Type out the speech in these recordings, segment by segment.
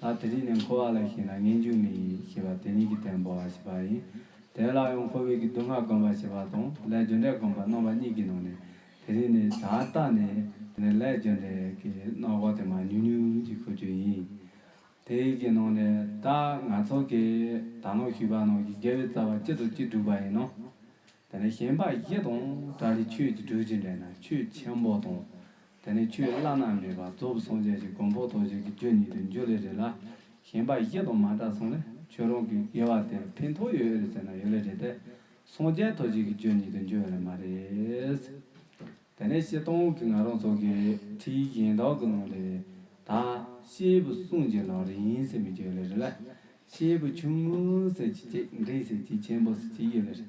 ད་དེ་རིང་ནས་འཁོར་བ་ལ་ཞེན་ན་ངན་སྐྱུག་ནི་ཡིན་ཞེས་པ་དེ་ཉིད་ཀྱི་དོན་འབོར་བར་བྱེད་པ་ཡིན། དེ་ལ་ཡང་འཁོར་བའི་གི་སྡུག་བསྔལ་བསྒོམ་པར་བྱེད་པ་དང་ལས་རྒྱུ་འབྲས་བསྒོམ་པར་སྣང་བ་གཉིས་ཀྱི་ནང་ནས་དེ་རིང་ནས་ད་ལྟ་ནས་དེ་ནི་ལས་རྒྱུ་འབྲས་ཀྱི་སྣང་བ་དེ་མ་ཉུང་ཉུང་ཅིག་ཤོར་རྒྱུ་ཡིན། དེ་ཡི་གི་ནང་ནས་ད་ང་ཚོ་གི་དག་སྣང་ཞུས་པ་ནང་གི་དགེ་བའི་རྩ་བ་གཅིག་དང་གཅིག་སྒྲུབ་པ་ཡིན་ནོ། དེ་ནས་གཞན་པ་བཞི་དང་སྒྲ་རི་ཆོས་ཀྱི་སྒྲུབ་བྱེད་འདྲེས་ན་ཆོས་ཆེན་པོ་དང། དེ་ནི་ཆུའི་བླ་ན་མེད་པ་གཙོ་བོ་སངས་རྒྱས་ཀྱི་དགོངས་པོ་རྡོ་རྗེ་གི་རྒྱུད་ཉིད་དུ་འགྱུར་ལེ་རེད་ལ། གཞན་པ་བཞི་དང་མ་བྲལ་སོང་ནས་ཁྱོད་རང་གི་དགེ་བ་དེར་ཕན་ཐོགས་ཡོད་རེད་ཟེར་ན་ཡོད་ལེ་རེད་དེ། སངས་རྒྱས་རྡོ་རྗེ་གི་རྒྱུད་ཉིད་དུ་འགྱུར་ཡོད་ལེ་མ་རེད། དེ་ནས་བཤད་སྟངས་ཀྱི་ང་རང་ཚོ་གི་ཁྲིད་གཞན་དག་གི་ནང་ལས། ད་ཤེལ་བུ་གསུངས་རྗེས་ལག་རིང་ཟེར་མི་རྒྱུ་ཡོད་ལེ་རེད་ལ། ཤེལ་བུ་ཆུང་ངུ་ཟེར་གྱི་གཅིག་འབྲིང་ཟེར་གྱི་ཆེན་པོ་ཟེར་གྱི་ཡོད་ལེ་རེད་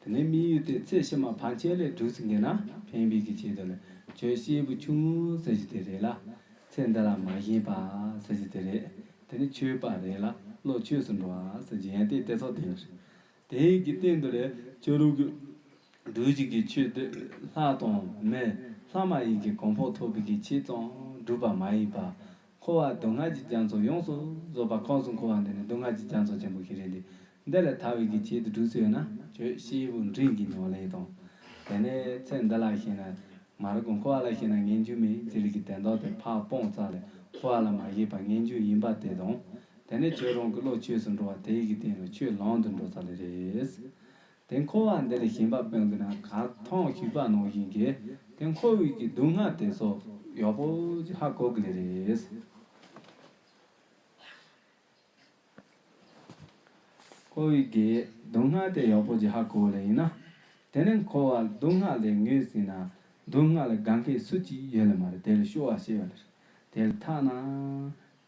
དེ་ནས་དམིགས་ཡུལ་ཏེ་ཚེ་ཕྱི་མ་བར་ཆད་ལས་གྲུབ་ཟིན་གྱི་ན་ཕན་བེད་ཀྱི་ཆེད་དུ་ནི་ཁྱོད་སྐྱེས་བུ་ཆུང་ངུ་ཟེར་གྱི་དེ་རེད་ལ། ཚེ་འདི་ལ་མ་ཞེན་པ་ཟེར་གྱི་དེ་རེད། དེ་ནི་ཆོས་པ་རེད་ལ་བློ་ཆོས་སུ་འགྲོ་བ་ཟེར་གྱི་ཡང་དེ་དེ་ཚོ་དེ་རེད། དེ་གི་སྟེང་དུ་ལས་ཆོས་ལུགས་ཀྱི་སྒྲོལ་བྱེད་ཀྱི་ཆོས་དེ་ལྷ་དང་མི་ལྷ་མ་ཡིན་གྱི་གོང་འཕོ་ཐོབ་བེད་ཀྱི་ཆེད་ཙམ་སྒྲུབ་པ་མ་ཡིན་པར། འཁོར་བ་སྡུག་བསྔལ་གྱི་རྒྱ་མཚོ་ཡོངས་སུ་རྫོགས་པ་ཁོངས་སུ་འཁོར་བ་འདི་ནི་སྡུག་བསྔལ་གྱི་རྒྱ་མཚོ་ཆེན་པོ་ཞིག་རེད་འདི། འདི་ལས་ཐར་བའི་གི་ཆེད་དུ་སྒྲུབ་བྱེད་ཡོད་ན། ཁྱོད་སྐྱེས་བུ་འབྲིང་གི་མྱོང་ལས་དང། དེ་ནས་ཚེ་འདི་ལ་ཞེན་ན། མ་རིག་གོ་འཁོར་བ་ལ་ཞེན་ན་ངན་སྒྱུ་མའི་རྗེས་ལུས་ཀྱི་དན་རྟོག་དེ་ཕ་སྤོང་རྩ་ལས་འཁོར་བ་ལ་མ་ཞེན་པར་ངན་སྒྱུ་ཡིན་པ་དེ་དང། དེ་ནས་ཁྱོད་རང་གི་བློ་ཆོས་སུ་འགྲོ་བ་དེ་ཡི་གི་སྟེང་ལ་ཁྱོད་ལམ་དུ་འགྲོ་ཚར་ལས་རེད། དེ་འཁོར་བ་འདི་ལས་གཞན་པ་དཔོན་གྱི་ནང་ག་ཐང་བཞུགས་པ་ནང་བཞིན་གྱི་དེ་འཁོར་དབུས་ཀྱི་སྡུག་བསྔལ་དེ་སོགས་ཡོད་པོ་ཅི་ཧ་གོ་གི་ལེ་རེད། འཁོར་དབུས་ཀྱི་སྡུག་བསྔལ་དེ་ཡོད་པོ་ཅི་ཧ་གོ་ལེ་ཡིན་ན། དེ་ནི་འཁོར་བ་སྡུག་བསྔལ་ལས་ངོས་ཟིན་ན་སྡུག་བསྔལ་ལ་དགའ་མཁན་སུ་གཅིག་ཡོད་ལེ་མ་རེད་དེ་ལ་ཤོར་བ་ཤེས་པ་ལེ་རེད་དེ་ལ་ཐ་ན་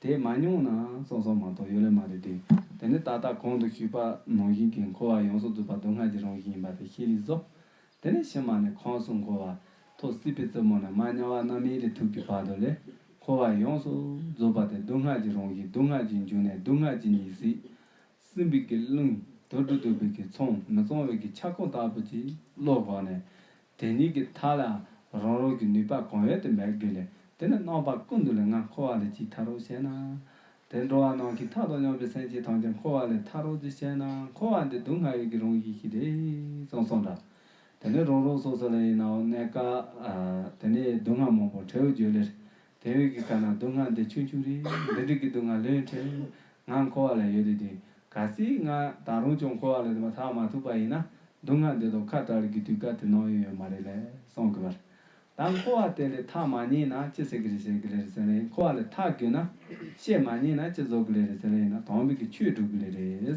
དེས་མ་མྱོང་ན་སོང་སོང་མ་གཏོགས་ཡོད་ལེ་མ་རེད་དེ། དེ་ནི་ད་ལྟ་གོང་དུ་ཞུས་པ་ནང་བཞིན་གྱི་འཁོར་བ་ཡོངས་སུ་རྫོགས་པ་སྡུག་བསྔལ་གྱི་རང་བཞིན་ཡིན་པ་དེ་ཤེས་ལེ་གཟོ། དེ་ནས་ཕྱི་མ་ནི་ཁོངས་སུ་འཁོར་བ་ཐོག་སྲིད་པའི་རྩེ་མོ་ནས་མ་དམྱལ་བ་རྣམ་གཡེང་གི་དུག་གི་བར་དོ་ལས། འཁོར་བ་ཡོངས་སུ་རྫོགས་པ་དེ་སྡུག་བསྔལ་གྱི་རང་བཞིན་སྡུག་བསྔལ་གྱི་འབྱུང་གནས་སྡུག་བསྔལ་གྱི་ཉིད་སྲིད། སྲིན་བུ་གི་རླུང་དུར་དྲུག་དུར་བུ་གི་ཚོམ་མི་གཙང་བས་ཀྱི་ཆག་སྐོམ་ལྟ་བུ་གྱིས་བློ་བགོགས་ནས། དེ་གཉིས་ཀྱི་མཐའ་ལའང་རང་རང་གི་ནུས་པ་གང་ཡོད་དུ་འབད་དགོས་ལས་དེ་ནི་རྣམ་པ་ཀུན་ཏུ་ལས་ལྔ་འཁོར་བ་ལས་ཅིག་ཐར་རོ་ཞེ་ན། དེར་འགྲོ་བ་རྣམས་ཀྱི་མཐའ་དང་སྙོམས་པའི་སེམས་ཅན་ཐམས་ཅད་འཁོར་བ་ལས་ཐར་རོ་ཅིག་ཞེ་ན་འཁོར་བ་འདི་སྡུག་བསྔལ་ཡུལ་གྱི་རང་བཞིན་ཞིག་རེད་གསུངས་སོང་འདྲ། དེ་ནི་རང་རང་སོ་སོ་ལ་ཡིན་ནའོ་གནས་སྐབས་དེ་ནས་སྡུག་བསྔལ་མང་པོ་ཁྲེའུ་རྒྱུད་ལས། དེ་བས་ཀྱི་ག་ན་སྡུག་བསྔལ་འདི་ཆུང་ཆུང་རེད་འདི་འདྲིག་གི་སྡུག་བསྔལ་ལོས་འཕྲལ་ང་འཁོར་བ་ལ་ཡོད་དུས་དུས་ག་ཚིག་ང་ད་རུང་ཅུང་འཁོར་བ་ལས་དེ་མ་ཐག་མ་ཐུག་པ་ཡིན་ན་སྡུག་བསྔལ་འདི་དོ་ཁ་གྲག་རིགས་ཀྱི་དུས་ག་དུས་ནང་ཡོད་ཡོད་མ་རེད་ལས་སོང་གི་བར་ད་འཁོར་བ་དེ་ལས་ཐག་མ་རྙེད་ན་ཅི་ཟེར་གི་རེད་ཟེར་གི་ལེ་རེད་ཟེར་ལེ་འཁོར་བ་ལས་ཐག་བསྐྱོན་ན་ཤེས་མ་རྙེད་ན་ཅི་རྫོགས་གི་ལེ་རེད་ཟེར་ལེ་ཡིན་ན་དོང་བུ་གི་ཆུས་བསྒྲུབ་གི་ལེ་རེད།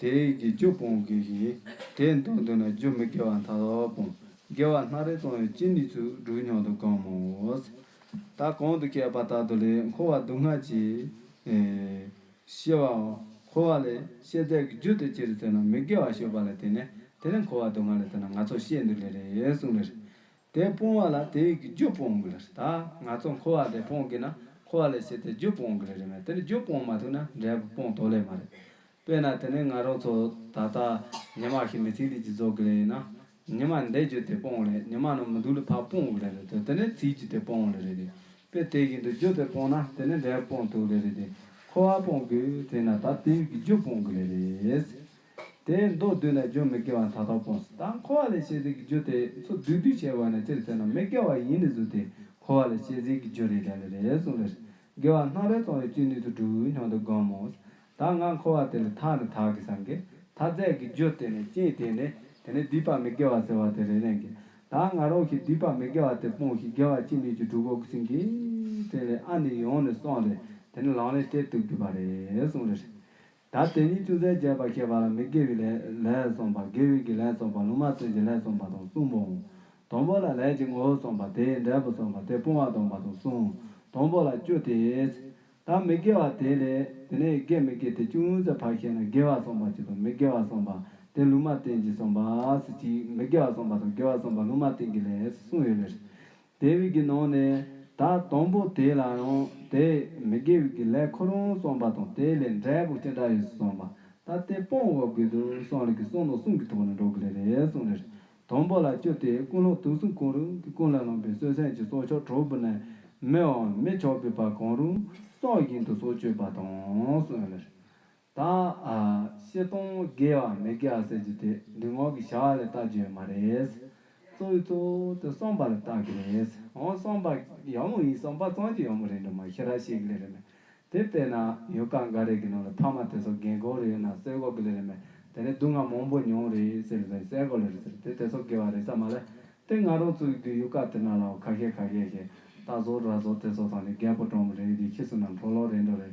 དེ་ཡི་གེ་བཅུ་སྤོང་དགོས་ཤིང། དེས་མདོ་མདོ་ན་བཅུ་མི་དགེ་བ་མཐའ་དག་སྤོང། དགེ་བ་སྣ་རེ་སྤོང་བའི་སྤྱི་ནི་ཚུལ་དྲུག་ཉུང་དུ་གང་མང་བོ། ད་གང་དུ་བསྐལ་པ་ལྟ་དུ་ལས་འཁོར་བ་སྡུག་བསྔལ་གྱིས། ཤེས་པའོ། འཁོར་བ་ལས་ཤེས་ཚད་ཀྱི་རྒྱུ་དེ་ཅི་རིགས་ཚོལ་ན་མི་དགེ་བ་ཞུགས་པ་ལས་དེ་ནས་དེ་ལས་འཁོར་བ་སྡུག་བསྔལ་ལས་ཚོལ་ན་ང་ཚོ་ཤེས་འདུག་ལེ་རེ་གསུངས་ལེ། དེ་སྤོང་བ་ལ་དེ་ཡིག་གི་རྒྱུ་སྤོང་དགོས་རེད་ད། ང་ཚོ་འཁོར་བ་ལས་སྤོང་དགོས་ན་འཁོར་བ་ལས་བྱས་ཏེ་རྒྱུ་སྤོང་དགོས་རེད་རེད་མོད་དེ་ནི་རྒྱུ་སྤོང་མ་ཐུབ་ན་འབྲས་བུ་སྤོང་དོགས་ལེ་མ་རེད། དཔེར་ན་དེ་ནི་ང་རང་ཚོ་ད་ལྟ་ཉི་མ་ཞིག་མི་ཚེའི་ལུས་ཀྱི་རྫོགས་དགོས་རེད་ན། ཉི་མ་འདས་རྒྱུ་དེ་སྤོང་རེད་ཉི་མ་ནང་མི་འདུག་ལུས་ཕར་སྤོང་དགོས་རེད་དེ་དེ་ནི་ཚེའི་རྒྱུ་དེ་སྤོང་ལེ་རེད་དེ། དཔེར་དེ་ཡིག་འདི་རྒྱུ་དེ་སྤོང་ན་དེ་ནི་འབྲས་བུ་སྤོང་དུག་ལེ་རེད་དེ། འཁོར་བ་སྤོང་དགོས་དེ་ན་ད་དེ་ཡིག་གི་རྒྱུ་སྤོང་དགོས་ལེ་རེད། དེས་མདོ་བསྡུས་ན་རྒྱུ་མི་དགེ་བ་མཐའ་དག་སྤོང་སྲིད་ད་འཁོར་བ་ལས་བྱེད་ཟིལ་གྱི་རྒྱུ་དེས་ཚུར་བསྡུས་བསྡུས་བྱས་བས་ན་སྤྱིར་བཙལ་ན་མི་དགེ་བ་ཡིན་ནི་གཟུགས་དེས་འཁོར་བ་ལས་བྱེད་ཟིལ་གྱི་རྒྱུ་རེད་དྲན་ནི་རེད་གསུངས་ལེར། དགེ་བ་སྣང་རེ་ཙོང་བའི་བཅུད་ནུས་སུ་འགྲུབ་སྙམ་དུ་སྒོམ་མོ། ད་ང་འཁོར་བ་དེ་ལས་ཐར་ནི་ཐག་གིས་བསམ་གི། ད་རྫས་ཀྱི་རྒྱུ་དེ་ནི་སྐྱེས་དེ་ནི་དེ་ནི་སྡིག་པ་མི་དགེ་བ་ཟེར་བ་དེ་རེད་དྲན་གི། ད་ང་རང་གིས་སྡིག་པ་མི་དགེ་བ་དེ་སྤོང་ཞིག་དགེ་བ་ཅི་ནུས་ཀྱིས་སྒྲུབ་དགོ་གསུངས་ཀི། དྲན་ལེ་ཨ་ནི་ཡོང་ནི་སོང་ལེ་དེ་ནི་ལངས་ནི་སྤྲེལ་གཏུབ་རྒྱུ་བ་རེད་གསུངས་ལེར། ད་དེ་ཉིད་ཅུང་ཟད་རྒྱས་པར་བཤད་པ་ལ་མི་དགེ་བའི་ལས་བརྩོན་པ་དགེ་བའི་གི་ལས་བརྩོན་པ་ལུང་མ་བསྟན་གྱི་ལས་བརྩོན་པ་དང་གསུམ་མོ། དང་པོ་ལ་ལས་ཀྱི་ངོ་བོ་བརྩོན་པ་དེའི་འབྲས་བུ་བརྩོན་པ་དེ་སྤོང་བ་དང་པོ་དང་གསུམ། དང་པོ་ལ་བཅུ་སྟེ། ད་མི་དགེ་བ་དེ་ལས་དེ་ནས་དགེ་མི་དགེ་དེ་ཅུང་ཟད་བར་བཤད་ན་དགེ་བ་བརྩོན་པ་གཅིག་དང་མི་དགེ་བ་བརྩོན་པ་དེ་ལུང་མ་བསྟན་གྱི་བརྩོན་པ་གཅིག་མི་དགེ་བ་བརྩོན་པ་དང་དགེ་བ་བརྩོན་པ་ལུང་མ་བསྟན་གྱི་ལས་གསུམ་ཡོད་ལེ། དེ་བས་ཀྱི་ནང་ནས་ད་དང་པོ་དེ་ལ་ཡང་དེ་མི་དགེ་བས་ཀྱི་ལས་ཁོ་རང་བསམ་པ་དང་དེའི་ལས་འབྲས་བུ་ཅི་འདྲ་ཡོད་བསམ་པ་ད་དེ་སྤོང་བ་དགོས་དུས་སང་ལས་ཀྱི་གསང་དང་གསུང་གི་ཐོག་ནས་འགྲོ་གི་ལས་རེད་གསུང་ལས་དང་པོ་ལ་བཅོས་ཏེ་ཀུན་སློང་དུག་གསུམ་གང་རུང་གི་ཀུན་ལས་ལངས་པའི་གསོད་སེམས་ཀྱི་སྲོག་ཆགས་གྲོག་སྦུར་ནས་མི་འམ་མི་ཆགས་པའི་བར་གང་རུང་སྲོག་བཞིན་དུ་སྲོག་གཅོད་པ་དང་གསུང་ལས། དང། བཤད་སྟོང་དགེ་བ་མི་དགེ་བ་ཟེར་རྒྱུ་དེ་འདི་ངོགས་ཀྱི་བྱ་བ་ལས་བལྟ་རྒྱུ་ཡོད་མ་རེད། གཙོ་བོའི་གཙོ་བོ་དེ་གསུངས་པ་ལ་བལྟ་གི་རེད། འོང་གསུངས་པ་ཡག་མོ་ཡིན་གསུངས་པ་གཙང་གྱི་ཡག་མོ་རེད་འགྲོ་མ་ཤེས་ར་ཤེས་གི་ལེ་རེད་མེད། དེ་བལྟས་ན་ཡུལ་ཁག་འགའ་རེ་གི་ནང་ལ་ཕ་མ་དེ་ཚོ་རྒན་གོག་རེད་ཡོད་ན་གསལ་གོ་གི་ལེ་རེད་མེད། དེ་ནས་སྡུག་བསྔལ་མང་པོ་མྱོང་རེད་ཟེར་གི་ལེ་རེད་གསལ་གོ་ལེ་རེད་ཟེར་དེ་དེ་ཚོ་དགེ་བ་རེད་ས་མ་ལེ། དེ་ང་རང་ཚོའི་གི་ཡུལ་ཁག་དེ་ན་ལའོ་ཁ་ཤས་ཁ་ཤས་ཤེས་ལྟ་ཟོར་ར་ཟོར་དེ་ཚོ་དང་ནི་རྒད་པོ་གྲོགས་མོ་རེད་གི་ཁྱི་སུ་ནམ་གྲོགས་ལོག་རེད་འགྲོ་རེད་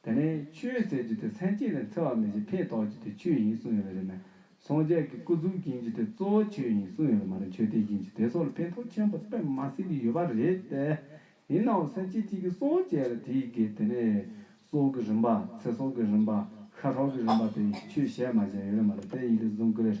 དེ་ནས་ཆོས་ཟེར་རྒྱུ་དེ་མཚན་གཅིག་ལས་འཚེ་བ་མེད་ཅིང་ཕན་ཐོགས་རྒྱུ་དེ་ཆོས་ཡིན་གསུངས་ཡོད་པ་རེད་མོད། སངས་རྒྱས་ཀྱི་སྐུ་གཟུགས་བྱིན་གྱིས་དེ་གཙོ་བོ་ཆོས་ཡིན་གསུངས་ཡོད་པ་མ་རེད་ཆོས་དེ་བྱིན་གྱིས་དེ་སོགས་ལ་ཕན་ཐོགས་ཆེན་པོ་སྤེལ་མ་སྲིད་ཀྱི་ཡོད་པ་རེད་དེ། ཡིན་ནའང་སེམས་ཅན་གཅིག་གིས་སངས་རྒྱས་ལ་དེའི་དགེ་དེ་ནས་སྲོག་གི་རིམ་པ་ཚེ་སྲོག་གི་རིམ་པ་ཤ་ཁྲག་གི་རིམ་པ་དེ་ཆོས་བཤད་མ་བྱས་ཡོད་རེད་མ་རེད་དེ་ཡིད་ལ་བཟུང་དགོས་རེད།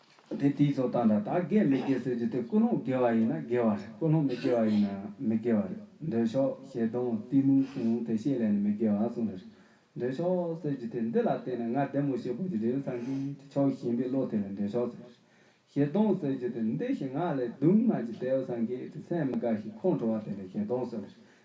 དེ་དེའི་རྫོགས་སྟངས་དང་དག་དགེ་མི་དགེ་ཟེར་རྒྱུ་དེ་ཀུན་སློང་དགེ་བ་ཡིན་ན་དགེ་བ་རེད་ཀུན་སློང་མི་དགེ་བ་ཡིན་ན་མི་དགེ་བ་རེད་འདོད་ཆགས་ཞེ་སྡང་གཏི་མུག་གསུམ་དེ་ཤེས་ལས་ནི་མི་དགེ་བ་གསུམ་རེད། འདོད་ཆགས་ཟེར་རྒྱུ་དེ་འདི་ལ་བརྟེན་ནས་ང་བདེ་མོ་ཞེས་དགོད་རྒྱུ་རེད་སངས་རྒྱས་ཀྱི་ཕྱོགས་ཞེན་པའི་བློ་དེ་ལ་འདོད་ཆགས་ཟེར། ཞེ་སྡང་ཟེར་རྒྱུ་དེ་འདི་ཞིག་ངག་ལས་སྡུག་བསྔལ་གྱི་དལ་བ་སངས་རྒྱས་ཀྱི་སེམས་མི་དགའ་ཞིང་ཁོང་ཁྲོ་བ་དེ་ལ་ཞེ་སྡང་ཟེར།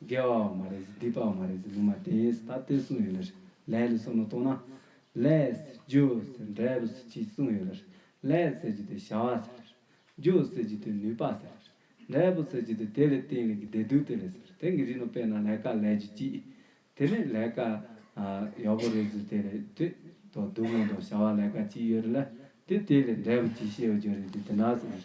རྒྱལ་བ་བ་མ་རེད་ཟེར་སྡིག་པ་བ་མ་རེད་ཟེར་ལུང་མ་བསྟན་ཡས་སུ་ད་ལྟོས་གསུངས་ཡོད་ལ་རེད་ལས་ལས་སོགས་ན་གཏོགས་ན། ལས། རྒྱུ། ཟེར་འབྲས་བུ་ཟེར་གྱིས་གསུངས་ཡོད་ལ་རེད་ལས་ཟེར་གྱི་དེ་བྱ་བ་ཟེར་ལ་རེད་རྒྱུ་ཟེར་གྱི་དེ་ནུས་པ་ཟེར་ལ་རེད་འབྲས་བུ་ཟེར་གྱི་དེ་དེ་ལས་བརྟེན་ལས་ཀྱི་བདེ་སྡུག་དེ་ལས་ཟེར་ལ་དེ་གི་རིགས་ནོ་དཔེར་ན་ལས་ཀ་ལས་ཀྱི་གྱིས། དེ་ནས་ལས་ཀ། ཡག་པོ་རེད་ཟེར་དེ་རེད་དེ། དོ་སྡུག་མོ་དོ་བྱ་བ་ལས་ཀ་གྱིས་ཡོད་རེད་ལ་དེ་དེ་ལས་འབྲས་བུ་གྱིས་ཤེས་བར་གྱུར་རེད་དེ་དེ་འདྲ་ཟེར་ལ་རེད་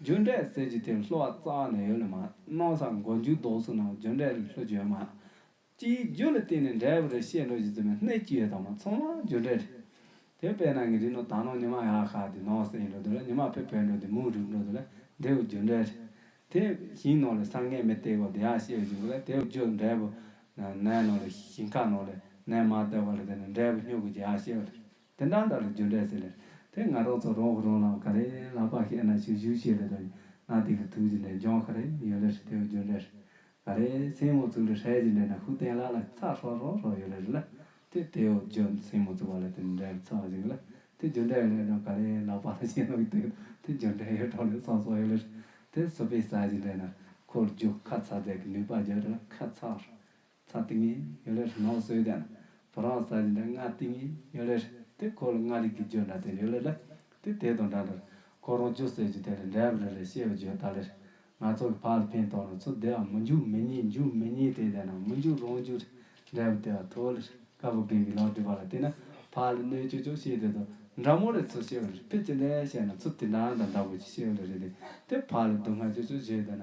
རྒྱུ་འབྲས་ཟེར་གྱི་དེ་ལྷོ་བ་རྩ་བ་ནས་ཡོད་ལ་མ་གནང་ས་མགོ་མཇུག་ལྡོག་ཚུལ་ནང་རྒྱུ་འབྲས་ལ་ལྷོ་རྒྱུ་ཡོད་མ། སྤྱིའི་རྒྱུ་ལ་བརྟེན་ནས་འབྲས་བུ་རེ་བཤད་འགྲོ་རྒྱུ་རྫུན་མའི་སྣེ་གཅིག་ཡོད་དང་མ་ཚང་མ་རྒྱུ་འབྲས་རེད། དེ་བས་ན་ངའི་རིགས་ནོར་ད་ནང་ཉི་མ་ཡག་ཤག་འདི་ནང་གསེས་ཡིན་འགྲོ་འདུག་ལ་ཉི་མ་ཕེབས་ཕེབས་འགྲོ་འདི་མུག་རུབ་འགྲོ་འདུག་ལ་དེ་བས་རྒྱུ་འབྲས་རེད། དེ་ཞིང་ནང་ལས་ས་ངན་མི་སྟེར་བར་འདི་ཡང་བཤད་རྒྱུ་འགོ་ལ་དེ་བས་རྒྱུ་འབྲས་བུ། ནས་ནང་ལས་ཞིང་ཁ་ནང་ལས་ནས་མ་སྟེར་བར་ལ་དེ་ནས་འབྲས་བུ་སྨྱུག་གི་རྒྱ་ཡང་བཤད་རྒྱུ་རེད། དེ་འདྲ་འདྲ་རེད་རྒྱུ་འབྲས་ཟེར་ལེར་དེ་ང་རང་ཚོ་རང་གི་རང་ལ་ག་རེ་ལ་དཔག་ཤེས་ན་ཆོས་ཞུ་བྱེད་ལེ་དང་ན་དེ་གི་ཐུགས་ཀྱི་ལས་འབྱུང་ག་རེ་ཡོད་ལེར་དེ་གི་རྒྱུ་འབྲས་རེད། ག་རེ་སྲིང་མོ་བཙུགས་ལེ་ཧྲལ་གྱི་འབྲས་ན་ཧུ་བསྟན་ལ་ལ་ཚགས་ཧྲོག་ཧྲོག་ཧྲོག་ཡོད་ལེ་རེད་ལ་དེ་དེ་ཨོ་རྒྱུ་སྲིང་མོ་བཙུགས་པ་ལ་དེ་འབྲས་ལ་ཚགས་ཤིག་གི་ལ་དེ་རྒྱུ་འབྲས་གི་ལས་དང་ག་རེ་ལ་དཔག་ལ་ཤེས་ན་གི་དེ་དེ་རྒྱུ་འབྲས་ཡོད་ཐོག་ལེ་སོགས་སོགས་ཡོད་ལེར་དེ་བཟོ་པའི་ས་གྱི་འབྲས་ན་ཁོར་རྒྱུག་ཁ་ཚགས་རྫས་ཀྱི་ནུས་པ་རྒྱུ་རུ་ཁ་ཚགས་ཚ་ཏིང་ངེ་ཡོད་ལེར་ནོ་བཟོས་ཀྱང་བུ་རང་ས་བཞིན་འདྲ་ང་ཏིང་ངེ་ཡོད་ལེར་དེ་ཁོ་ལ་ང་རིག་གི་བརྗོད་འདྲ་དེ་ཡོད་ལེར་ལ་དེ་དེ་དང་འདྲ་འདྲར་ཁོ་རང་ཅུ་ཟེར་གྱི་དེ་ལས་འདྲ་བ་རེ་རེ་ཤེས་པ་བརྗོད་ད་ལེར་ང་ཚོ་གི་ཕ་ལ་ཕན་ཐོག་ན་ཚོ་བདེ་བ་མི་འཇུག་མི་ཉེས་འཇུག་མི་ཉེས་དེ་ལྟ་ན་མི་འཇུག་རང་འཇུག་རེད་འདྲ་བ་བདེ་བ་ཐོག་ལེར་དཀར་པོ་རྒན་གྱི་ལག་དེ་བ་ལ་བལྟས་ན་ཕ་ལ་གནོད་ཅོག་ཅོག་ཤེས་དེ་དང་འདྲ་མོ་ལེར་ཚོ་ཤེས་པ་རེད་ཕེ་ཅི་འདྲ་བཤད་ན་ཚོ་དེ་འདྲ་འདྲ་འདྲ་བོ་ཅིག་ཤེས་པ་ལེར་རེད་དེ་དེ་ཕ་ལ་སྡུག་བསྔལ་ཅོག་ཅོག་བྱེད་དེ་ན་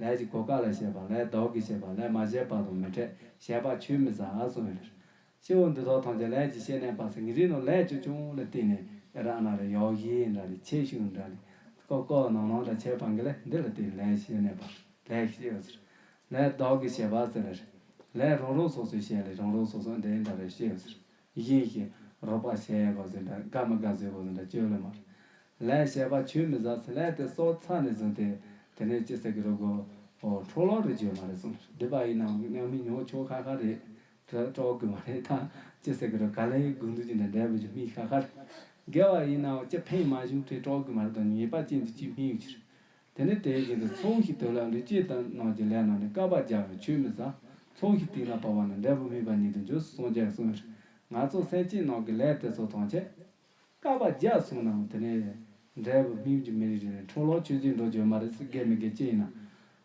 ལས་ཀྱི་གོ་སྐབས་ལ་བྱེད་པ་ལས་ལྡོག་གི་བྱེད་པ་ལས་མ་བྱས་པ་དང་མི་འཕྲད་བྱས་པ་ཆུད་མི་ཟ་གསུངས་ཡོད་ལ། སྐྱེ་བོ་འདི་དག་ཐམས་ཅད་ལས་ཀྱི་ཤེས་གནས་པ་སེང་གེ་རིགས་ནོར་ལས་ཆོས་སྐྱོང་ལ་བརྟེན་ནས་ཨེ་ར་ཨན་ར་ཡོག་ཧི་ཨན་ར་ལས་ཁྱད་ཞུགས་འདྲ་ལས་ཀོ་ཀོ་ནང་ནང་དང་ཁྱད་པར་འགའ་ལས་འདི་ལ་བརྟེན་ནས་ལས་ཀྱི་ཤེས་གནས་པ་ལས་ཤེས་ཡོད་ཟེར། ལས་ལྡོག་གི་བྱེད་པ་ཟེར། ལས་རང་རང་སོ་སོའི་ཤེས་ལས་རང་རང་སོ་སོ་འདི་འདྲ་རེ་ཤེས་ཡོད་ཟེར། བཞིན་ཞིང་རོགས་པ་བྱས་ཡས་གོ་ཟེར་འདྲ་དགའ་མི་དགའ་བཟོས་གོ་ཟེར་འདྲ་བཅོས་ལོ་མར། ལན་ཞེས་པ་ཆུད་མི་ཟ་ཟེར་ལན་དེ་སྲོག་ཚར་ནས་བཟུང་སྟེ་དེ་ནས་ཅི་ཟེར་གི་རོགས་གོ། ཨོ་འཕྲོག་ལོག་རེད་བཅོས་མ་རེད་གསུངས་བསྡད་པ་ཡིན་ནའང་ཉམས་མི་མྱོང་ཆོག་ཁ་ཁ་རེད། དྲོ་དགོས་མ་རེད་ད་ཅི་ཟེར་གི་རོགས་ག་ལེ་སྒུག་འདུག་ཅི་འདྲ་འདྲ་བུ་ཅི་སྨིན་ཁ་ཁ་རེད། དགེ་བ་ཡིན་ནའང་ཅི་ཕན་མ་བྱུང་ཁྲེ་དྲོག་གི་མ་རེད་དོ་ངེས་པ་ཅི་འདུག་ཅི་སྨིན་ཡོད་ཀྱི་རེད། དེ་ནི་དེའི་རྗེས་ཀྱི་ཚོགས་ཞིག་དོད་ལ་ལུས་དཀྱིལ་དང་ནང་གི་ལས་རྣམས་ནི་བསྐལ་པ་བརྒྱ་བས་ཆུད་མི་ཟ། ཚོགས་ཞིག་གཏིང་ལ་བབ་པ་ནི་འབྲས་བུ་སྨིན་པ་ཉིད་དུ་འགྱུར་གསུངས་རྒྱལ་གསུངས། ནག་ཚོགས་སེམས་ཅན་ནང་གི་ལས་དེ་ཚོ་དང་བཅས། བསྐལ་པ་བརྒྱ་གསུངས་ནའང་དེ་ནི། འབྲས་བུ་སྨིན་གྱི་མི་རིགས་རེ་རེ་འཕྲོ་བརླག་ཆོས་ཅན་འགྲོ་བྱོལ་མ་རེད་ཟེར་དགེ་མི་དགེ་ཅི་ཡིན་ན།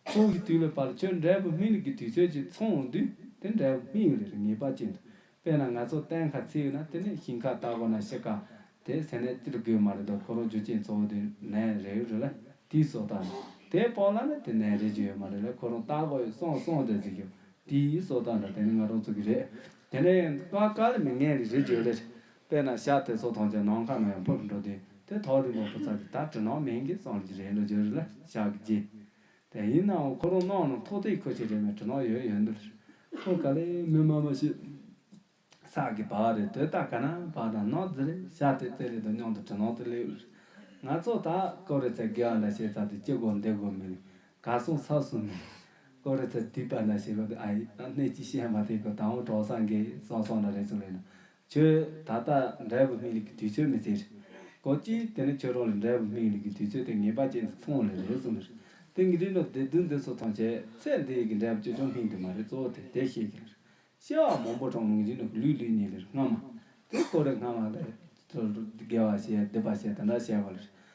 ཚོགས་ཞིག་དུས་ལ་བབ་ལ་ཁྱོད་འབྲས་བུ་སྨིན་གི་དུས་ཚོད་ཅིག་འཚོང་འོང་དུས་དེ་འབྲས་བུ་སྨིན་ཡོད་རེ་རེ་ངེས་པ་ཅན་དུ་དཔེར་ན་ང་ཚོ་གཏན་ཁ་ཚིག་ཡོད་ན་དེ་ནས་ཞིང་ཁ་བཏགས་དགོས་ན་བཤད་ཁ་དེ་ཟེར་ནས་སྟེར་དགོས་མ་རེད་དོ་ཁོ་རང་རྒྱུ་རྐྱེན་གཙོ་བོ་དེ་ནས་རེད་ཡོད་རེད་ལ་དེའི་སྲོག་བཏགས་ནས་དེ་སྤོ་ལ་ནི་དེ་ནས་རེད་ཀྱི་ཡོད་མ་རེད་ལ་ཁོ་རང་བཏགས་དགོས་ཡོད་སོང་སོང་དེ་ཟེར་ཀྱི་དེའི་སྲོག་བཏགས་འདྲ་དེ་ནི་ང་རང་ཚོ་གི་རེད་དེ་ནས་ཀ་ཀ་ལ་མི་ངན་རིགས་རེད་ཀྱི་ཡོད་རེད་དཔེར་ན་ཤ་དེ་ཚོ་ཐོངས་ཀྱང་ནང་ཁ་ནང་ཡང་འཕུར་འགྲོ་དུས་དེ་ཐོག་རིང་པོ་འཕུར་ཚར་དུས་ད་དྲི་ནང་མིང་གིས་གསང་གི་རེད་ལོ་རྒྱུ་རེད་ལ་ཤ་གི་རྗེས། དེ་ཡིན་ནའང་ཁོ་རང་ནང་ནང་ཐོག་ཐིག་ཁོ་ཆེ་རེད་མོད་དྲི་ནག་ཡོད་ཡོད་འདུག་རེད། ཁོ་ག་ལེ་མི་དམར་མོ་ཞིག་ས་གི་བ་རེད་དོས་ལྟ་ག་ན་བ་དང་ནག་རྫི་རེད་ཤ་དེ་རྩེ་རེད་དོ་སྙིང་དུ་དྲི་ནག་དེ་ལེ་ཡོད་རེད། ང་ཚོ་ད་ཀོ་རེ་ཚའི་དགེ་བ་འདྲ་བྱས་ཚར་དུས་སྐྱིད་གོ་བདེ་གོ་མི་རེད་ག་སོང་ས་སོང་མི་རེད། ཀོ་རེ་ཚའི་དུས་པ་འདྲ་བྱས་གོ་དུས་ཨ་ཡིས་ཨ་གནས་ཀྱིས་བཤད་མ་ཐེག་གོ་ད་འོང་གྲོགས་སངས་རྒྱས་ཡིས་སོང་སོང་འདྲ་རེད་ཚུར་ལེན་ན་ཁྱོད་ད་ལྟ་འབྲས་བུ་སྨིན་ལུགས་ཀྱི་དུས་ཚོད་མི་ཟེར། ཀོ་ཅི། དེ་ནི་ཁྱོད་རང་ལ་འབྲས་བུ་སྨིན་ལུགས་ཀྱི་དུས་ཚོད་དེ་ངེས་པ་ཅན་དུ་མཐོང་བ་ལས་རེད་གསུངས་ལར། དེང་གི་རིགས་ལ་བདེ་སྡུག་འདི་ཚོ་མཐོང་བྱས་ཚད་འདི་ཡི་གི་འབྲས་བུ་ཅོལ་ཆུང་སྨིན་དུས་མ་རེད་གཙོ་བོ་དེ་དེ་ཤེས་གི་ལར། ཤེས་བ་མང་པོ་གྲང་རླུང་བཞིན་དུ་ལུས་ལུས་ཉིད་ལེར་སྔ་མ། དེ་ཀོ་རེ་སྔ་མ་ལས། དགེ་བ་བྱས་སྡིག་པ་བྱས་དེ་འདྲ་བྱས་པ་ལར།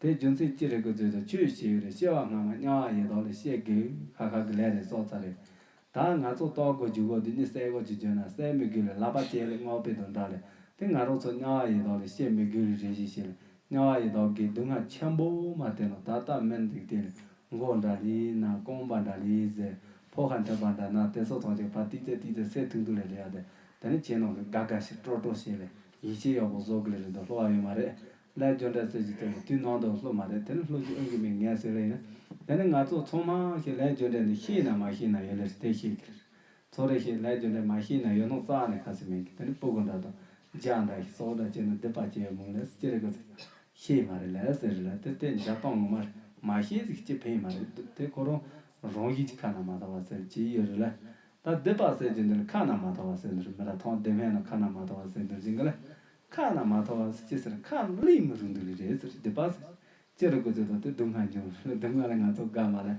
དེའི་རྒྱུ་མཚན་ཅི་རེད་གུས་བརྩེ་དང་ཆོས་ཞེས་ཡོད་རེད་ཤེས་བ་སྔ་མ་དམྱལ་བ་ཡེ་དོག་ལས་ཤེས་དགོས་ཁ་ཁ་གི་ལས་རེད་སྲོག་རྩ་རེད། ད་ང་ཚོ་ལྟོགས་དགོས་རྒྱུ་དགོས་འདི་གཉིས་གསལ་དགོས་ཅེས་བརྗོད་ན་གསལ་མི་དགོས་ལས་ལབ་པ་ཅན་ལས་སྔོག་དཔེ་དང་འདྲ་ལས་དེ་ང་རང་ཚོ་དམྱལ་བ་ཡེ་དོག་ལས་ཤེས་མི་དགོས་རེད་རེ་ཞིག་བྱས་ལ་དམྱལ་བ་ཡེ་དོག་གི་སྡུག་བསྔལ་ཆེན་པོ་མ་བསྟན་ལ་ད་ལྟ་མི་འདུག་དེ་ལས་མགོ་འདྲ་ལས་ན་རྐང་པ་འདྲ་ལས་ཟེར་ཕོ་ཁ་འཐོན་པ་འདྲ་ན་དེ་ཚོ་ཐོག་ཅིག་བར་ཏིག་ཏིག་ཏིག་ཏིག་སེ་ཐུག་ཐུག་ལས་རེད་ཡ་དེ་དེ་ནི་ཁྱེད་རྣམས་ཀྱི་དགའ་དགའ་ཞིག་སྤྲོ་སྤྲོ་ཞིག་ལས་ཡིད་ཆེས་ཡོད་པ་བཟོ་དགོས་ལས་རེད་འདུག་སློ་བ་ཡོད་མ་རེད་ལས་སྦྱོར་འདྲ་རྩོད་ཀྱི་དེ་ལ་དུས་ནང་དུ་ལྷུ་མ་རེད་དེ་ནི་ལྷུ་ཞིག་ཨང་ཀི་མིག་ངས་ཟེར་རེ་ཡིན། དེ་ནི་ང་ཚོ་ཚོང་མ་ཞིག་ལས་སྦྱོར་འདྲ་འདི་ཤེས་ན་མ་ཤེས་ན་ཡོད་ལེ་རེད་དེ་ཤེས་ཀི་ལེ་རེད། ཚོ་རེ་ཞིག་ལས་སྦྱོར་འདྲ་མ་ཤེས་ན་ཡོད་ནོ་རྩ་ནས་ཁ་སི་མིན་ཀི་དེ་ནི་སྤུ་གུ་འདྲ་དང། ལྗགས་འདྲ་ཞིག་སོགས་འདྲ་བྱས་ན་འདི་པ་བྱས་ཡོད་མུག་ལེ་སི་ཅི་རེད་གི་ཟེར། ཤེས་མ་རེད་ལེ་ཟེར་རེ་ལ་དེ་དེ་འཇག་སྟངས་ངོ་མ་རེད་མ་ཤེས་ཟིག་ཅི་ཕན་མ་རེད་དུ་དེ་ཁོ་རང་རང་བཞིན་གྱི་ཁ་ན་མ་ཐོ་བ་ཟེར་གྱི་ཡོད་རེད་ལེ། ད་འདི་པ་ཟེར་གྱི་འདི་ལ་ཁ་ན་མ་ཐོ་བ་ཟེར་འདི་རེད་མི་ར་ཐང་བདེ་སྨན་ལ་ཁ་ན་མ་ཐོ་བ་ཟེར་འདོད་ཀྱི་འགི་ལེ། ཁ་ན་མ་ཐོ་བ་ཟེར་ཅི་ཟེར་ཁ་གླིང་མི་རུ་འདུག་ལེ་རེད་ཟེར་སྡིག་པ་ཟེར། ཅི་རེད་གོ་ཚོད་དང་དེ་སྡུག་བསྔལ་འབྱུང་ལེ་སྡུག་བསྔལ་ལས་ང་ཚོ་དགའ་མ་ལེ།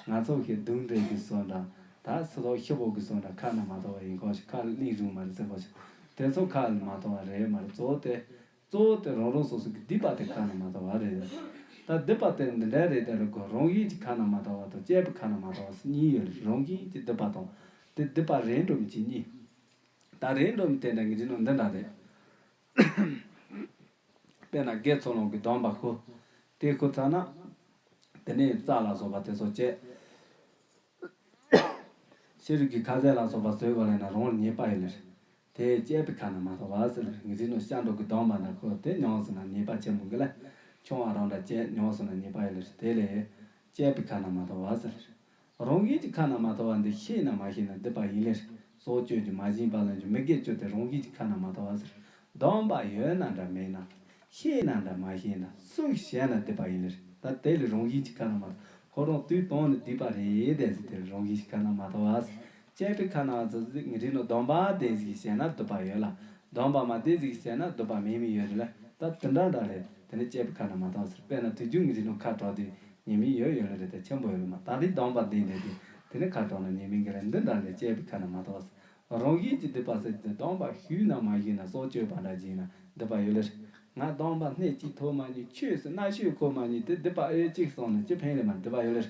ང་ཚོ་ཤེས་སྡུག་འདྲེ་གི་སོ་འདྲ། ད་སི་ཏོག་ཤི་བོ་གི་སོ་འདྲ་ཁ་ན་མ་ཐོ་བ་ཡིན་ཁོག་ཤིག་ཁ་གླིང་རུང་མ་རེད་ཟེར་ཁོག་ཤིག། དེ་ཚོ་ཁ་ལ་མ་ཐོ་བ་རེད་མ་རེད་གཙོ་བོ་དེ། གཙོ་བོ་དེ་རང་རང་སོ་སོ་གི་སྡིག་པ་དེ་ཁ་ན་མ་ཐོ་བ་རེད། ད་སྡིག་པ་དེ་འདི་འདྲ་རེད་དེ་རེད་གོ་རང་བཞིན་གྱི་ཁ་ན་མ་ཐོ་བ་དང་བཅས་པའི་ཁ་ན་མ་ཐོ་བ་སི་གཉིས་ཡོད་ལེ་རང་བཞིན་གྱི་སྡིག་པ་དང་དེ་སྡིག་པ་རེད་འགྲོ་མི་གཅིག་གཉིས། ད་རེས་འགྲོ་མི་དེ་འདྲ་ངེས་ཅི་ནོ་འདི་འདྲ་རེད། དཔེར་ན་རྒས་ཚོ་ལོང་གི་དོམ་པ་ཁུ། དེ་ཁུ་ཚར་ན། དེ་ནས་རྩྭ་ལ་སོགས་པ་དེ་ཚོ་བཅད། ཤ་རུས་ཀྱི་ཁ་ཟས་ལ་སོགས་པ་ཟོས་གོ་ལེ་ན་རང་ཉེས་པ་ཡོད་ལེ་རེད། དེ་བཅད་པའི་ཁ་ན་མ་ཐོ་བ་ཟེར་བའི་རིགས་ངེས་ཅི་ནོ་ཤ་འབྲོག་གི་དོམ་པ་འདྲ་ཁུ་དེ་མྱོང་ཟིན་ན་ཉེས་པ་ཆེན་པོ་འགི་ལེ། ཆུང་བ་རང་འདྲ་བཅད་མྱོང་ཟིན་ན་ཉེས་པ་ཡོད་ལེ་རེད་དེ་ལས། བཅད་པའི་ཁ་ན་མ་ཐོ་བ་ཟེར་ལེ་རེད། རང་གཞན་གྱི་ཁ་ན་མ་ཐོ་བ་འདི་ཤེས་ན་མ་ཤེས་ན་སྡིག་པ་ཡིན་ལེར་སྲོག་གཅོད་ཀྱི་མ་བྱིན་པ་ལ་འགྱུར་མི་དགེ་བཅུ་སྟེ་རང་གཞན་གྱི་ཁ་ན་མ་ཐོ་བ་ཟེར། སྡོམ་པ་ཡོད་ན་འདྲ་མེད་ན། ཤེས་ན་འདྲ་མ་ཤེས་ན་སུ་བྱས་ན་སྡིག་པ་ཡིན་ལེར་ད་དེ་ལས་རང་བཞིན་གྱི་ཁ་ན་མ་ཐོ་ཁོ་རང་དུས་དང་ནི་སྡིག་པ་རེད་ཟེར་དེ་ལས་རང་བཞིན་གྱི་ཁ་ན་མ་ཐོ་བ་ཟེར་དཔྱད་པའི་ཁ་ནང་ཙི་ཙི་ངི་རིག་ནོ་སྡོམ་པ་དེ་ཟིག་གིས་བྱས་ན་སྡུད་པ་ཡོད་ལ། སྡོམ་པ་མ་དེ་ཟིག་གིས་བྱས་ན་སྡུད་པ་མེད་མི་ཡོད་རེད་ལ་ད་དེ་འདྲ་འདྲ་རེད་དེ་ནི་དཔྱད་པའི་ཁ་ནང་མ་དོགས་ཟེར་དཔེར་ན་དུས་རྒྱུན་ངི་རིག་ནོ་ཁ་དྲོ་དེ་ཉེས་མིང་ཡོད་ཡོད་ལ་རེད་ད་ཆེན་པོ་ཡོད་ལ་མ་ད་རེས་སྡོམ་པ་འདི་འདྲ་དེ་དེ་ནི་ཁ་དྲོ་ན་ཉེས་མིང་གི་རེད་འདི་འདྲ་རེད་དཔྱད་པའི་ཁ་ནང་མ་དོགས་ཟེར། རང་བཞིན་གྱིས་སྡུད་པ་ཟེར་གྱི་སྡོམ་པ་ཞུས་ནམ་མ་ཞུས་ནམ་སྲོག་གཅོད་པ་འདྲ་བགྱིས་ན་སྡུད་པ་ཡོད་ལ་རེད། ང་སྡོམ་པ་སྣེ་གཅིག་ཐོག་མ་ཉིད་ཆོས་སུ་གནའ་ཤོས་ཁོ་མ་ཉིད་དེ་སྡུད་པ་ཨེ་ཡོད་ཅིག་སོང་ན་ཅི་ཕན་ལས་མ་སྡུད་པ་ཡོད་ལ་རེད།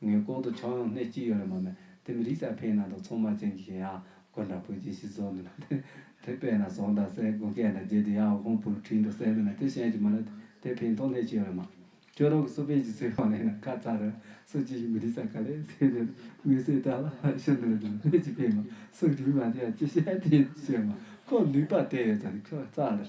ངའི་ལྐོག་ཏུ་ཆང་ཡང་སྣེ་གཅིག་ཡོད་ལ་མ་མེད་དེ་མི་རིགས་ས་ཕེའི་ནང་དུ་ཚོང་དམག་ཅན་གྱི་ཞེན་ཡག་དགོན་དང་བོད་ཀྱི་ཤི་ཚོགས་འདུ་ན་དེ་དེ་པས་ན་ཟོང་དང་སའི་དགུན་སྐད་དང་རྗེས་དེ་ཡང་འོ་ཁོང་བུར་ཁྲིད་འགྲོ་སའི་འདུ་ན་དེ་ཞེན་གྱི་མ་ལ་དེ་ཕེའི་མཐོང་སྣེ་གཅིག་ཡོད་ལ་མ་ཅོ་རོག་གི་སུ་ཕེ་ཀྱི་ཚིག་རོང་ལས་ན་ཁ་ཚ་རུ་སུ་ཅི་ཞིག་མི་རིགས་ས་ག་ལེར་ཚིག་དེ་ལ་མི་སེ་ད་ལ་ཤི་འདུ་ན་དེ་ལ་སྣེ་གཅིག་ཕེ་མ་སུ་རིགས་མ་དེ་ཡང་ཅི་ཞེན་དེ་ཡིན་ཅེས་མ་ཁོ་ལུས་པ་དེ་ཡོད་ཚ་ཁྱོ་ཚ་ལེར།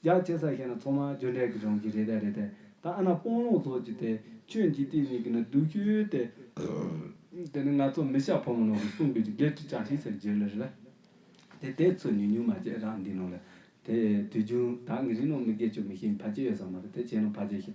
རྒྱ་ཆེ་ས་ཞིག་ན་ཚོང་མ་གྱོད་འདྲེ་གི་རང་གི་རེད་རེད་དེ་ད་ཨ་ན་སྤོང་ལུང་ཚོགས་ཀྱི་དེ་ཁྱོད་འཇིག་རྟེན་གཉིས་ཀྱི་ན་སྡུག་ཤོས་དེ་དེ་ནི་ང་ཚོ་མི་ཤ་ཕོ་མོ་ནང་གི་སྲུང་སྐྱོབ་ཀྱི་འགལ་འཁྲི་ཅག་ཞིག་ཟེར་བརྗོད་ལེ་རེད་ལ། དེ་དེ་ཚོས་ཉུང་ཉུང་མ་བྱས་རང་འདི་ནང་ལ་དེ་དུས་རྒྱུན་ད་ངི་རིགས་ནང་མི་དགེ་ཆོས་མི་ཤེས་ཕ་ཅེ་ཡོད་ས་མ་རེད་དེ་བྱས་ན་ཕ་ཅེ་ཤེས་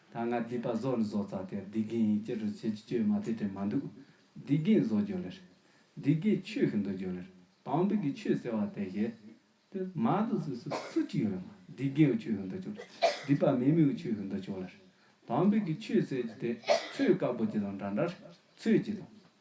ད་ང་བསྡིགས་པ་བཟོ་ལ་བཟོ་ཙག་དེར་བསྡིགས་རྒན་ཡིན་ཅི་རུ་བྱེད་ཅི་བྱོས་མ་དེ་དྲན་མ་འདུག་བསྡིགས་རྒན་བཟོ་རྒྱུ་ལེར། བསྡིགས་རྒན་ཆོས་ཤིག་འདུག་རྒྱུ་ལེར་བང་བུ་གི་ཆོས་ཟེར་བ་དེ་བཞེས། དེ་མ་འདུག་ཟུར་སུ་སུ་གཅིག་ཡོད་ལ་མ་བསྡིགས་རྒན་ཆོས་ཤིག་འདུག་རྒྱུ་ལེར་བསྡིགས་པ་མེད་མི་ཆོས་ཤིག་འདུག་རྒྱུ་ལེར་བང་བུ་གི་ཆོས་ཟེར་གྱི་དེ་ཚོས་བཀའ་བསྒོ་གྱི་དང་འདྲ་འདྲར་ཚོས་ཀྱི་དང།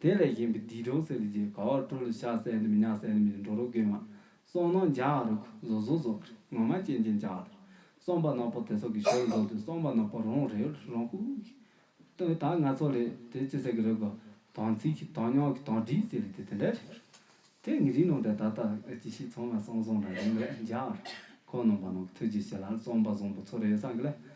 དེ་ལས་གཞན་པའི་སྡིག་གྲོགས་སེར་ལས་རྒྱལ་ག་བར་སྤྲོ་ལ་ཤ་བསད་ནི་མི་ཉག་བསད་ནི་མི་འགྲོ་རོ་རྒན་མ། སོང་ནོ་འཇའ་ཨ་རོ་ཁུ་ཟོ་ཟོ་ཟོ་ཁར་ངོ་མ་ཅན་ཅན་འཇའ་ཨ་རོ། སོང་པ་ནག་པོ་དེ་སོག་གི་ཞོར་ལ་འགྲོ་དུས་སོང་པ་ནག་པོ་རང་རེ་ལ་རང་ཁུག་ཁུག་གིས། ད་ང་ཚོ་ལས་དེ་ཅི་ཟེར་གི་རེད་གོ། དང་ཚིག་གིས་དང་ཉོག་གིས་དང་བྲིས་ཟེར་ལས་དེ་དེ་འདྲ་རེད་གོ། དེ་ངི་རིག་ནང་དྲན་ད་ལྟ་ཅི་ཞིག་ཚང་མ་སང་སང་འདྲ་རེད་མ་རེད་འཇའ་ཨ་རོ། ཁོ་ནང་པ་ནང་གི་ཐུགས་རྗེ་ཆེ་ལ་སོང་པ་བཟང་པོ་ཚོ་རེད་བསམ་གི་ལ།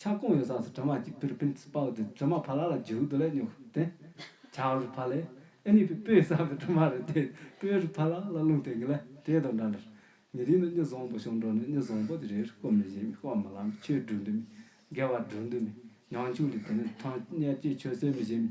ཆང་ཀོང་ཡོད་ས་སུ་དྲི་མ་གཅིག་པིར་པིན་སྤ་བོ་དེ་དྲི་མ་ཕ་ལ་ལ་རྗེ་བུ་དོ་ལས་ཉོག་དེ། བྱ་རུ་ཕ་ལས་ཨེ་ནི་པི་པོས་བསམ་པའི་དྲི་མ་རེད་དེ་པོའི་རུ་ཕ་ལ་ལ་རླུང་དེ་ངི་ལ་དེའི་དོ་འདྲ་འདྲ། ཉི་རིང་ན་སྙི་བཟང་པོ་ཤོང་འགྲོ་ནི་སྙི་བཟང་པོ་དེ་རེ་རེ་སྐོར་མི་བཞེས་མི་སྐོར་མི་ལ་མི་ཆོས་སྒྲུག་འདི་མི་དགེ་བ་སྒྲུག་འདི་མི་ཉང་ཆུང་དེ་དེ་ནི་ཐང་སྙད་ཀྱི་ཆོས་སྲོལ་མི་བཞེས་མི་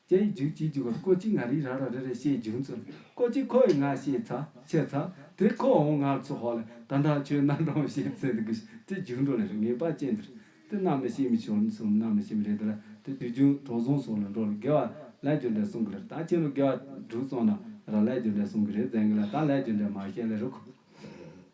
ཅེས་ཡིག་འཇུག་གཅིག་འཇུག་གམ་ཀོ་གཅིག་ང་རིག་རང་རང་རེ་རེ་ཞེས་འབྱུང་ཚུལ་ཀོ་གཅིག་ཁོ་ཡི་ང་ཞེས་ཚ་ཆེ་ཚ་དེ་ཁོ་འོང་ང་ཚོ་ཧོ་ལ་ད་ནང་ཆོས་རྣམ་གྲངས་བཤད་ཚེ་འདི་གུས་ཅི་འབྱུང་འགྲོ་ལ་རེ་ངེས་པ་ཅན་འདིར་དེ་རྣམས་ནི་ཤེས་མི་ཤོར་གསུམ་རྣམས་ནི་ཤེས་མི་རེ་འདི་ལ་དེ་དུས་རྒྱུན་གྲོགས་གཟུང་སོང་ལ་འགྲོ་ལ་དགེ་བ་ལས་རྒྱུ་འབྲས་གསུང་གི་ལར་ད་ཁྱེད་ལོ་དགེ་བ་དྲུག་གསུངས་ན་ར་ལས་རྒྱུ་འབྲས་གསུང་གི་རེད་བཙན་གི་ལ་ད་ལས་རྒྱུ་འབྲས་མ་བཤད་ལ་རུ་ཁུ།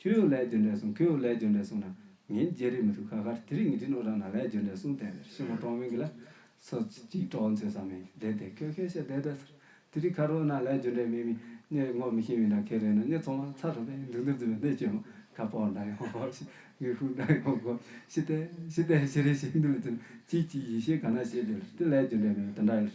ཁྱོད་ཡོད་ལས་རྒྱུ་འབྲས་གསུངས་ཁྱོད་ཡོད་ལས་རྒྱུ་འབྲས་གསུངས་ན། ངའི་རྒྱལ་རིགས་མི་ཐུབ་ཁ་ཁར་དེ་རིགས་ངེས་དྲིན་ཨོ་རང་ན་ལས་རྒྱུ་འབྲས་གསུངས་བསྟན་ཟེར་ཤེས་མོ་ཀྲོང་མིང་གི་ལ་སོ་གཅིག་ཀྲོང་ཚོས་བསམ་མིང་བསྡད་བསྡད་ཁྱོད་ཁས་བཤད་བསྡད་བསྡད་ཟེར་དེ་རིགས་ཁར་ཨོ་ན་ལས་རྒྱུ་འབྲས་མེད་མིན་སྙད་ངོ་མི་ཤེས་མིན་དང་ཁས་ལེན་ན་སྙད་ཚོང་བ་ཚ་རུ་བས་འདུག་འདུག་འཛིན་པའི་གནས་བཅོས་མ་ཁ་སྤོག་འདྲ་ཡོང་གོ་ཞེས་ངའི་ཧུད་འདྲ་ཡོང་གོ་ཞེས་བསྟན་ཞེས་བསྟན་ཞེས་རེ་ཞིག་འདི་ལ་བརྩིས་ན་ཅིག་ཅིག་ཡིད་ཤེས་ག་ན་བྱེད་ཟེར་དེ་ལས་རྒྱུ་འབྲས་མེད་པ་དེ་འདྲ་ཡོད་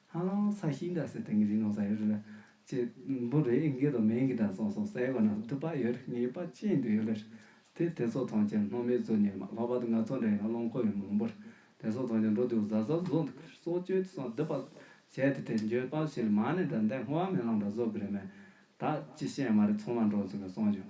ཧ་ལམ་ས་ཞིང་འདྲ་སའི་སྟེང་གི་ཞིང་ནོར་ས་ཡོད་རེད་ལ། ཅེས་འབུ་རེ་ཨིན་སྐད་དུ་མིང་གི་སྒྲ་སོགས་སོགས་གསལ་བོ་ནང་དུ་པགས་ཡོད་རེད་ངེས་པ་ཅན་དུ་ཡོད་རེད། དེ་དེ་ཚོ་ཐང་ཆེན་སྣོལ་མའི་གཙོས་ཉེར་མ་ལྷོ་བར་དུ་ནག་ཚོགས་འདྲ་ཡིན་ལ་རླངས་འཁོར་ཡང་མང་པོ་རེད། དེ་ཚོ་ཐང་ཆེན་འགྲོ་དུས་གཟའ་གཟར་བཟོ་འདུག་གསོ་བཅོས་དེ་སོགས་བསྡུ་བར་བྱས་ཏེ་དེ་འགྱོད་པ་ཆེ་ལ་མ་ནི་དགྲ་འདེད་སྔོ་བ་མེ་གླང་འདྲ་བཟོ་དགོས་རེད་མོད། ད་ཅི་བཤད་མ་རེད་ཚང་མ་འགྲོ་ཚུགས་ནས་སོང་བྱུང།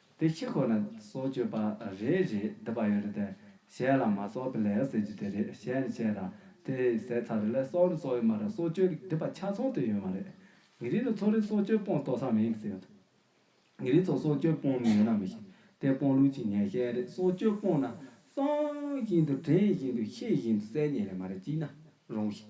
དེ་ཕྱི་ཁོ་ན་སྲོག་གཅོད་པ་རེ་རེ་འདི་པ་ཡོད་རེད་དེ་གཞན་ལ་མ་སྲོག་པི་ལེ་ཟེར་རྒྱུ་དེ་རེད་གཞན་ནི་བྱས་ར་དེ་ཟས་ཚ་རེ་ལས་སྲོག་ནི་སྲོག་ཡོད་མ་རེད་སྲོག་གཅོད་ཀྱི་འདི་པ་ཆ་ཚང་དུ་ཡོད་མ་རེད་ངེད་རིགས་ནི་ཚོ་རེ་སྲོག་གཅོད་དཔོན་ཏོག་སམ་ཡིན་གི་ཟེར་འདུག་ངེད་རིགས་ཚོ་སྲོག་གཅོད་དཔོན་མི་ཡོད་ན་མི་ཤེས་དེ་དཔོན་ལུགས་ཀྱི་ངན་ཤན་རེད་སྲོག་གཅོད་དཔོན་ན་གསང་བཞིན་དུ་དྲན་བཞིན་དུ་ཤེས་བཞིན་དུ་གསལ་ཉན་རེད་མ་རེད་ཅིག་ན་རུང་ཞིག་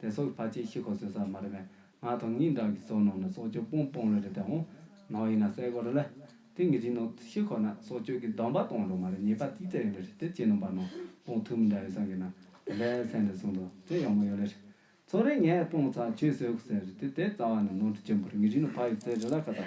དེ་སོགས་ཕ་ཆེ་ཤི་ཁོ་ཟོས་ས་མ་རེད་པས་ང་དང་ངའི་འགྲམ་གྱི་སོ་ནང་ནས་སྲོག་གཅོད་སྤོང་སྤོང་ལེ་རེད་དེ་འོང་ནང་ཡིན་ན་གསལ་པོ་རེད་ལ། དེ་ངེད་ཀྱི་ནང་ཤི་ཁོ་ན་སྲོག་གཅོད་ཀྱི་སྡོམ་པ་གཏོང་འགྲོ་མ་རེད་ཉེས་པ་ཏིག་ཏིག་ཡོད་ལེ་རེད་དེ་ཁྱེད་རྣམ་པ་ནང་སྤོང་ཐུབ་མི་འདྲ་བའི་སང་གི་ནང་དེ་འདྲའི་སེམས་འདི་བཟུང་འགྲོ་དེ་ཡག་མོ་ཡོད་ལེ་རེད། ཚོང་རེ་ངས་སྤོང་ཚར་ཁྱོས་ཟོས་གོ་ཟེར་རེད་དེ་དེ་རྩ་བ་ནས་ནང་དུ་བཅུག་འབུར་ངེད་རིགས་ནང་ཕ་ཡོད་ཚད་རེད་ལ་ཁ་ཚ་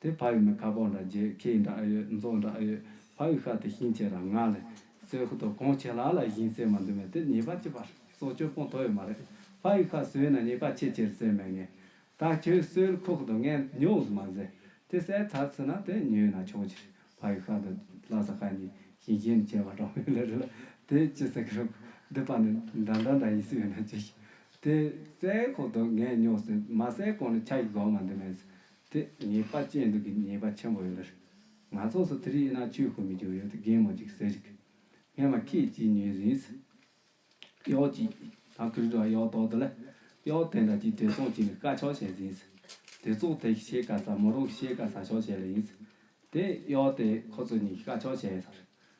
དེ་ཕ་ཡུལ་ནི་ཁ་བོ་འདྲ་རྒྱལ་ཁའི་འདྲ་ཡོད་མཛོ་འདྲ་ཡོད་ཕ་ཡུལ་ཤ་དེ་ཤིང་ཆེ་ར་ང་ལས་སོས་ཧུ་དོ་གོང་ཆེ་ལ་ལ་བཞིན་བསྲེས་མ་འདུག་མེད་དེ་ཉེས་པ་ཅི་པར་སོ་སྐྱོ་སྤོང་དོ་ཡོད་མ་རེད་ཕ་ཡུལ་ཤ་སོས་ན་ཉེས་པ་ཆེ་ཆེར་བསྲེས་མེད་ངེས་ད་ཁྱོད་སོས་ཁོ་ཧུ་དོ་ངས་ཉོས་སུ་མ་ཟེར་དེ་བསྲེས་ཚར་ཚུ་ན་དེ་ཉོས་ན་ཆོག་ཅི་རེད་ཕ་ཡུལ་ཤ་དོ་ལ་ས་ཁ་ཉིན་ཞིང་ཞེ་ནི་ཆེ་བ་འདྲ་མོ་ཡོད་ལ་རེད་ལ་དེ་ཅི་ཟེར་གི་རོག་འདི་པ་ནི་འདྲ་འདྲ་འདྲ་ཡིན་སུ་ཡོད་ན་བྱོས་ཤིག་དེ་བསྲེས་ཧུ་དོ་ངས་ཉོས་སོས་མ་བསྲེས་གོང་ནི་ཆ་ཡི་གོ་མ་འདུག་མེད་དེ་ཉེས་པ་ཅན་དུ་གི་ཉེས་པ་ཆེན་པོ་ཡོད་པར། ང་ཚོགས་སུ་དེ་རིགས་ཡིན་ན་ཆོས་ཤོར་མི་འགྱུར་ཡོད་དུ་རྒན་མོ་ཅིག་ཟེར། ངས་བ་ཁྱེད་ཅིས་ཉོས་ཟིན། གཡོག་ཅིག་ད་ཁུལ་འགྲོ་བ་གཡོག་ཏོག་དེ་ལ། གཡོག་དེ་འདྲ་ཅིག་དེ་ཚོགས་ཅིག་ནི་དཀའ་ཆོག་བྱས་ཟིན། དེ་ཚོགས་དེ་ཤེས་དཀའ་ས་མོ་རང་གི་ཤེས་དཀའ་ས་ཆོག་བྱས་ལ་ཡིན། དེ་གཡོག་དེས་ཁོ་ཚོ་གཉིས་ཀྱི་དཀའ་ཆོག་བྱས་ཟེར།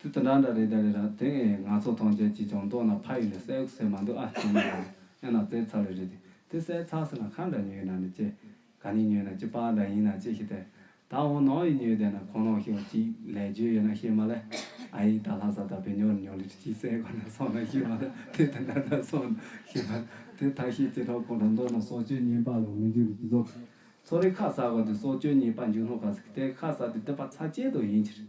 དུས་དེ་འདྲ་འདྲ་རེད་ད་རེད་ར་དེ་ཨེ་ཡིན་ང་ཚོ་ཐོངས་རྒྱལ་གྱིས་ཀྱང་མདོག་ན་ཕ་ཡུལ་ནས་སའི་ཟས་མ་འདུག་ཨ་ཅེ་མ་རེད་ཨེ་ན་ཙེ་ཚ་ལུ་རེད་དེ་དེ་སའི་ཚགས་ཟེར་ན་ཁ་འདྲ་ཉོས་ན་ནི་ཅེ་ག་ནི་ཉོས་ན་ཅེ་པགས་འདྲ་ཡིན་ན་ཅེ་ཤི་ཏེ་ད་འོ་ནོ་ཨི་ཉོས་བསྡད་ན་ཁོ་ནོ་ཤོག་ཅིག་ལས་རྗོད་ཡོད་ན་ཤེས་མ་ལེ་ཨ་ཡིག་ད་ལྷ་ས་ད་བེ་ཉོ་རི་ཉོ་ལི་ཏྲི་ཅིའི་སའི་གོ་ན་སོང་ན་ཤེས་མ་ལེ་དེ་དེ་འདྲ་འདྲ་སོང་ན་ཤེས་མ་ལེ་དེ་ད་ཤེས་ཅེ་ཁྲག་ཁོང་ཁྲག་མདོག་ན་སྲོག་གཅོད་ཉེན་པ་ལོ་མི་འཇུ་རི་ཅི་ཚོགས་ཚོགས་རི་ཁ་ཟ་གོ་དེ་སྲོག་གཅོད་ཉེན་པ་འཇུ་སློང་ག་ཟིག་དེ་ཁ་ཟ་དེ་སྡོད་པ་ཚ་ཅེ་དོ་ཡིན་ཕྱིར་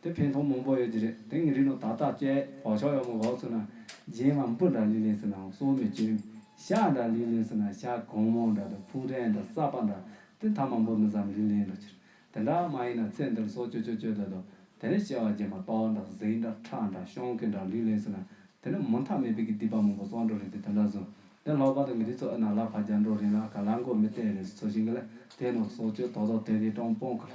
དེ་འཕེན་ཐོང་མང་པོ་ཡོད་ཀྱི་རེད་དེང་གི་རིགས་ལོ་ད་ཏག་ཅེས་བག་ཆགས་ཡོད་མོ་བག་ཚོ་ན་རྗེན་མ་འབུ་འདྲ་ལི་ལི་ཟེར་ནའང་སོ་མི་གཅོན། ཤ་འདྲ་ལི་ལི་ཟེར་ན་ཤ་གང་མང་འདྲ་དང་ཕུག་རན་འདྲ་སྲབ་པ་འདྲ་དེ་མཐའ་མ་འབུ་མི་ཟམ་ལི་ལི་འདྲ་ཁྱེར། དེ་འདྲ་མ་ཡིན་ན་ཚེ་འདིར་སྲོག་གཅོད་གཅོད་གཅོད་དོད་དོད་དེ་ནས་སྐྱེ་བ་རྗེན་མ་ཏོག་འདྲ་གཟིག་འདྲ་ཁྲ་འདྲ་ཤོང་ཁི་འདྲ་ལི་ལི་ཟེར་ན་དེ་ནི་མུ་མཐའ་མེད་པའི་གི་སྡིག་པ་མང་པོ་སྲོག་འགྲོ་རེད་དེ་དེ་འདྲ་བཟུང་དེ་ལྷག་པ་དང་གི་རིགས་ཚོ་ཨི་ན་ལ་བ་རྒྱ་འགྲོ་རིན་ལ་ག་ལ་མགོ་མི་གཏད་རེད་ཟོ་བཞིན་གི་ལ་དེ་ནོར་སྲོག་གཅོད་དོག་དོག་དེ་དེ་སྤྲང་སྤོང་གི་ལ་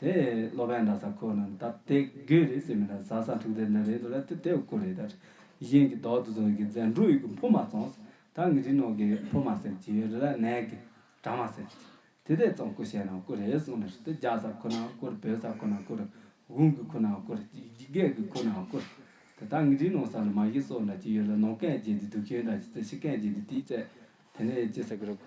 དེ་སློབ་དཔོན་འདྲ་ས་ཁོ་ནམ་ད་དེ་དགོས་རེད་ཟེར་མི་འདྲ་ཟ་ས་འཁྲུག་དེ་འདྲ་རེད་འདུག་ལ་དེ་དེ་བ་ཁོ་རེད་ད། གཞན་གྱི་དོག་ཏུ་བཟུང་ཡི་གི་རྫས་འབྲུག་ཡི་གི་འཕོ་མ་ཙོངས། ད་ངི་རིག་ནོག་གི་འཕོ་མ་ཟེར་གྱི་ཡོད་རེད་ལ་ནས་གི་གྲ་མ་ཟེར་གྱི། དེ་དེ་ཙོང་ཁོ་བཤད་ནང་ཁོ་རེད་གསུངས་ནས་དེ་རྒྱ་ས་ཁོ་ནང་བསྐོར་བོད་ས་ཁོ་ནང་བསྐོར། དགུང་གི་ཁོ་ནང་བསྐོར་བརྒྱད་གི་ཁོ་ནང་བསྐོར། དེ་ད་ངི་རིག་ནོག་ས་ལ་མ་གཞི་སོགས་འདྲ་གྱི་ཡོད་ལ་ནོག་སྐད་བརྗེད་དེ་དུག་ཤོན་འདྲ་གྱི་རྩེ་ཤི་སྐད་བརྗེད་དེ་དེའི་རྩེ་དེ་ནས་ཅི་ཟེར་གི་རོགས།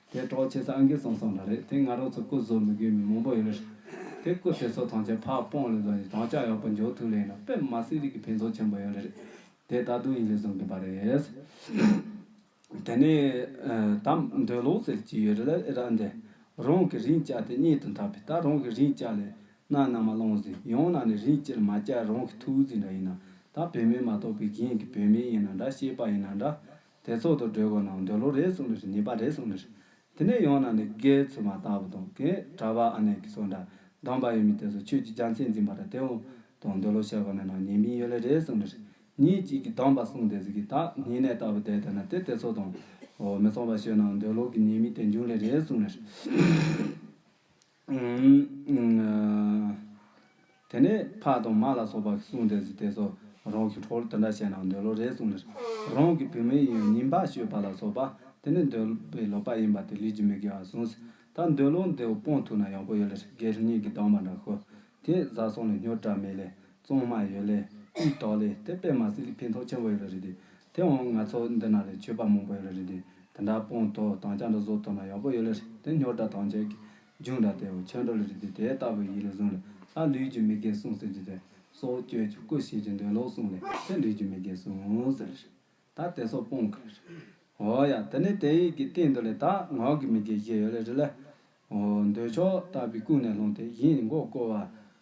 དེ་གྲོགས་བྱེད་ས་ཨང་ཀི་ཙམ་ཙམ་རེ་རེད་དེ་ང་རང་ཚོ་སྐུ་བཟོ་མི་དགོས་མི་མང་པོ་ཡོད་རེད། དེ་སྐུ་དེ་ཚོ་ཐང་ཆེན་ཕག་སྤོང་ལས་བཟོ་ཡིན་དང་ལྕགས་ཡག་པོ་འཇོག་ཐུབ་ལས་ཡིན་ན་དཔེ་མ་སྲིན་རིགས་ཀྱི་ཕན་ཐོག་ཆེན་པོ་ཡོད་རེད། དེ་ད་དུང་ཡིན་ལས་བཟོ་མཁན་པ་རེད། དེ་ནས་དམ་འདོན་ལོག་ཟེར་གྱི་ཡོད་རེད་ཨེ་ར་འདི། རང་གི་རིན་བཅའ་དེ་རྙེད་དུ་འཐབ་པས་ད་རང་གི་རིན་བཅའ་ལས་གནའ་ནང་མ་བླངས་ཟིན་ཡང་གནའ་ནས་རིན་བཅས་མ་བཅའ་རང་གི་ཐུགས་བརྩེ་འདྲ་ཡིན་ན་ད་བོད་མི་མ་གཏོགས་པའི་གཞན་གྱི་བོད་མི་ཡིན་ན་འདྲ་ཤེས་པ་ཡིན་ན་འདྲ་དེ་ཚོགས་དུ་སྒྲོལ་དགོས་ན་འདོད་བློ་རེ་གསུངས་ནི་རེད་ཉེས་པ་རེ་གསུངས་ནི་རེད། དེ་ནས་ཡང་ན་ནི་རྒས་ཚུལ་མ་ལྟ་བུ་དང་གས་གྲ་བ་ཨ་ནེ་གི་སོགས་འདྲ་གདམས་པ་ཡོད་མི་དེ་ཚོ་ཆོས་ཀྱི་རྒྱ་མཚན་འཛིན་པ་འདྲ་དེ་འོང་དང་འདོད་བློ་བཤད་དགོས་ནས་ན་ཉེས་མིང་ཡོད་ལེ་རེ་གསུངས་ནི་རེད་ཉིན་གཅིག་གི་གདམས་པ་གསུངས་དེ་ཚོ་གི་ད་ཉིན་ནས་ལྟ་བུ་བསྡད་དེ་ན་དེ་དེ་ཚོ་དང། མི་མཚུངས་པ་ཤོད་ན་འདོད་བློ་གི་ཉེས་མིང་དེ་འབྱུང་ལེ་རེ་གསུངས་ནི་རེད། དེ་ནས་ཕག་དང་མ་ལ་སོགས་པ་གསུངས་དེ་སྲིད་དེ་སོགས་རང་གི་ཁྲོ་བོར་དེ་འདྲ་བྱས་ན་འདོད་བློ་རེ་ཟུང་ལེགས། རང་གི་བུད་མེད་ཡིན་ཡང་ཉིན་ཕག་ཤོད་པ་ལ་སོགས་པ་དེ་ནི་འདོད་པའི་ལོག་པ་ཡིན་པ་དེ་ལུས་ཀྱི་མི་དགེ་བར་གསུངས། ད་འདོད་བློ་འདི་སྤོང་ཐུབ་ན་ཡག་པོ་ཡོད་ལེགས་སྒེར་གཉིས་ཀྱི་སྡང་བ་འདྲ་ཤོ། དེས་བཟའ་སོང་ལས་སྙོར་གྲ་མེད་ལས། བཙོང་མ་ཡོད་ལས་དབུས་དོགས་ལས་དེ་སྤེལ་མ་ཟིན་གྱི་ཕན་ཐོགས་ཆེན་པོ་ཡོད་རེད་དེ། དེ་འོང་ང་ཚོ་འདི་ན་ལས་ཆོས་པ་མང་པོ་ཡོད་རེད་དེ་དེ་འདྲ་སྤོང་དོ་དང་བྱ་འདྲ་བཟོ་དོ་ན་ཡག་པོ་ཡོད་ལེ་རེད་དེ་སྙོར་འདྲ་དང་བྱས་ཀྱི་རྒྱུགས་འདྲ་དེ་འོ་ཆོས་འགྲོ་ལེ་རེད་དེ་དེ་ལྟ་བུ་ཡིད་ལ་བཟུང་ལེ་ལྷ་ལུས་ཀྱི་མི་དགེ་བསྲུང་ཟེར་རྒྱུ་དེ་སྲོག་གཅོད་ཀྱི་སྐུ་བྱེད་ཀྱི་འདོད་ལོག་བསྲུང་ལེ་ལྷའི་ལུས་ཀྱི་མི་དགེ་བསྲུང་ཟེར་ལེ་རེད་ད་དེ་སོགས་སྤོང་གི་ལེ་རེད་འོ་ཡ་དེ་ནས་དེ་ཡིད་ཀྱི་སྟེང་དུ་ལེ་ད་ངག་གི་མི་དགེ་བཞི་ཡོད་ལེ་རེད་ལེ་འོ་འདོད་ཕྱོགས་ལྟ་བུའི་ཀུན་ནས་སློང་དེ་ཡིད་མགོ་བསྐོར་བ་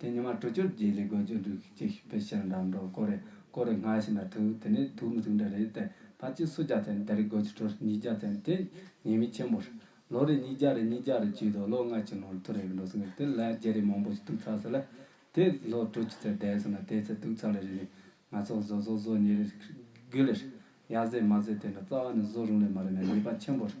དེ་ཉི་མ་དྲུག་ཅུར་རྗེས་ལས་དགོས་ཀྱི་འདུག་ཅེས་ཞུས་པས་ཕྱིར་འགྲམ་དུ་བསྐོར་རེ་བསྐོར་རེ་སྔར་བཞིན་དུ་ཐུག་དེ་ནས་ཐུག་མི་ཐུག་འདྲ་རེད་དེ་ཕར་ཆུ་སོ་བརྒྱ་ཚན་དེ་རེ་དགོས་ཀྱི་དྲོར་ཉིས་བརྒྱ་ཚན་དེ་ཉེས་མིག་ཆེན་པོ་རེད། ལོ་རེ་ཉིས་བརྒྱ་རེ་ཉིས་བརྒྱ་རེ་བཅུས་དང་ལོ་ལྔ་ཆུ་ནང་དུ་རེག་འགྲོ་སོང་ངས་དེ་ལས་བརྒྱ་རེ་མང་པོ་ཞིག་དུག་ཚགས་སུ་ལས། དེ་ལོ་དྲུག་ཅུ་ཚན་བསྡད་སོང་ན་དེའི་ཚེ་དུག་ཚགས་ལས་རེ་རེ་ང་ཚོ་བཟོ་བཟོ་བཟོ་ཉེས་རེ་དགུ་ལེ་རེ། ཡར་བཟོས་མར་བཟོས་དེ་འདྲ་རྩ་བ་ནས་བཟོ་རུང་ལས་མ་རུང་ན་ཉེས་པ་ཆེན་པོ་རེད།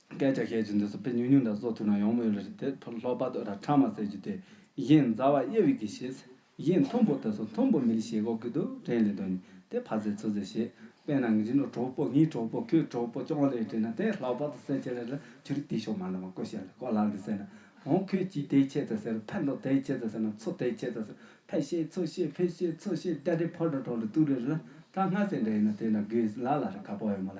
སྐད་ཆ་བཤད་རྒྱུ་འདི་ཚོ་ཕལ་ཉུང་ཉུང་དང་བཟོ་ཐུབ་ན་ཡོང་མི་ཡོད་ལ་རི་དེ་ཕོ་ལྷོག་པ་དོ་ར་ཁྲ་མ་ཟེར་རྒྱུ་དེ་གཞན་མཛའ་བ་དབྱེ་བའི་གི་ཞེས་གཞན་མཐོན་པོ་དེ་ཚོ་མཐོན་པོ་མི་རིགས་ཞེས་གོ་གི་འདུག་དྲན་ལེ་འདོན་ནི་དེ་ཕ་ཟེར་ཚུ་ཟེར་ཞེས་དཔེ་ནང་གི་རི་ནོར་གྲོགས་པོ་ངའི་གྲོགས་པོ་ཁོའི་གྲོགས་པོ་ཅོང་ལེ་དྲན་ན་དེ་ལྷག་པ་དོ་ཟེར་ཆེ་ལེ་ལ་ཆུ་རི་དེ་ཤོག་མ་ལ་མ་ཀོ་ཞེས་ལ་ཀོ་ལ་འདི་ཟེར་ན་རང་ཁོས་ཀྱིས་དེ་ཁྱེད་ཚོས་ཟེར་ཕལ་མདོ་དེ་ཁྱེད་ཚོས་ཟེར་ན་ཚོ་དེ་ཁྱེད་ཚོས་ཟེར་ཕལ་ཤེས་ཚོ་ཤེས་ཕལ་ཤེས་ཚོ་ཤེས་དེ་རི་ཕོ་དྲ་གྲོགས་ལེ་ཏུ་རི་ལ་ཀྲ་ང་ཟེར་འདྲ་ཡིན་ན་དེ་འདྲ་དགོས་ལ་ལ་རི་ཁ་པོ་ཡོད་མ་ལ་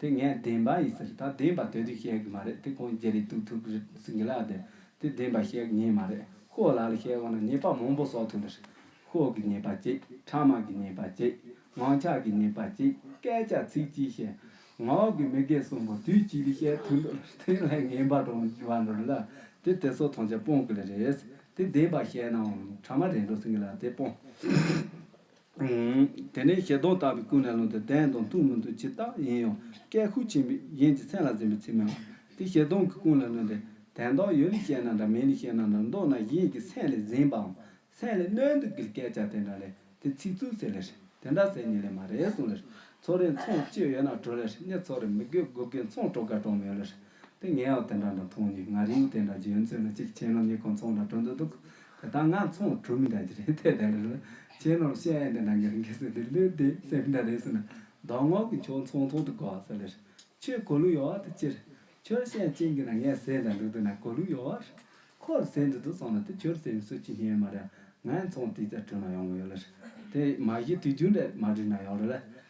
དེ་ངས་བདེན་པ་ཡིན་ཟེར་ད་བདེན་པ་དེ་དུས་བཤད་གི་མ་རེད་དེ་ཁོང་རྒྱ་རིགས་ཐུག་ཐུག་རེད་ཟིན་གི་ལགས་དེ་དུས་བདེན་པ་བཤད་གི་ཉེས་མ་རེད་ཁོའོ་ལགས་ལ་བཤད་དགོས་ན་ཉེས་པ་མང་པོ་བསོག་ཐུབ་ནི་རེད་ཁོའོ་གི་ཉེས་པ་གཅིག་ཕྲ་དམག་གི་ཉེས་པ་གཅིག་ངང་ཆགས་གི་ཉེས་པ་གཅིག་སྐད་ཆ་ཚིག་གཅིག་བཤད་ངའོ་གི་མི་སྒེར་གསུམ་པོ་དུས་གཅིག་ལ་བཤད་ཐུབ་འགྲོ་ལ་དེ་ལས་ངན་པ་འགྲོ་བ་འགྲོ་རེད་ལ་དེ་དེ་ཚོ་ཐང་ཆ་སྤོང་གི་ལ་རེད་དེ་བདེན་པ་བཤད་ནའང་ཕྲ་མ་རེད་འགྲོ་ཟིན་གི་ལགས་དེ་སྤོང། དེ་ནས་ཞལ་གདོང་བལྟ་བའི་ཀུན་ལས་ལོངས་ཏེ་བདེན་དང་མཐུན་མི་འདུག་ཇི་ལྟ་ཡིན་ཡང་སྐད་ཤུགས་ཆེན་པོས་གཞན་གྱི་མཚན་ལ་འཛེམ་པའི་ཚིག་སྨྲས་པ། དེ་ཞལ་གདོང་གི་ཀུན་ལས་ལོན་ཏེ། དན་རྟགས་ཡོད་ལས་བཤད་ན་འདྲ་མེད་ལས་བཤད་ན་འདྲ་མདོར་ན་གཞན་གྱི་མཚན་ལས་འཛེམ་པའམ་མཚན་ལས་གནོད་འདུག་གིལ་སྐད་ཆ་དེ་འདྲ་ལས་དེ་ཚིག་རྩུབ་ཟེར་ལེར་དེ་འདྲ་ཟེར་ཉིན་ལས་མ་རེད་གསུངས་ལེར་ཚོགས་རའི་མཚོན་བཅོས་ཡོད་ན་བྲོ་ལེར་སྙད་ཚོགས་རེ་མི་དགོས་དགོས་གལ་མཚོན་བྲོ་དགའ་གྲོགས་མེད་ལེར་དེ་ངས་ཨོ་དེ་འདྲ་འདྲ་མཐོང་ནས་ང་རིང་དེ་འདྲ་རྗེའུ་མཛོད་ན་གཅིག་ཁྱེད་ནོར་གཉིས་ཁོང་ཚོང་འདྲ་གྲོ་འདུག་འདུག་དེ་ད་ང་ཚོང་གྲུ་མི་འདྲ་གྱི་རེད་དེ་དེ་འདྲ་རེད་ཁྱེད་ནོར་བཤད་ཨེ་འདི་འདྲ་འགི་རེད་འགི་ཟེར་དེ་ལུས་དེ་སེམས་འདྲ་རེད་ཟེར་ན་མདོ་སྔགས་ཀྱི་ཆོག་ཚོང་ཚོང་དུ་གོ་ཟེར་ལེར་ཁྱོད་གོ་ལུགས་ཡོད་བ་དེ་ཁྱེར་ཁྱོད་བཤད་ཅིག་འགི་ན་ངས་ཟེར་འདྲ་འདུག་འདི་ན་གོ་ལུགས་ཡོད་བར་ཁོར་ཟེར་འདི་འདུག་ཚོང་ན་དེ་ཁྱོད་ཟེར་མི་སུ་ཅི་ཉན་མ་རེད་ང་ཚོང་དེ་ཚ་གྲུ་ན་ཡོང་གི་ཡོད་ལེར་དེ་མ་གཞི་དུས་རྒྱུན་འདྲ་མ་བྲིས་ན་ཡོང་རེད་ལེ་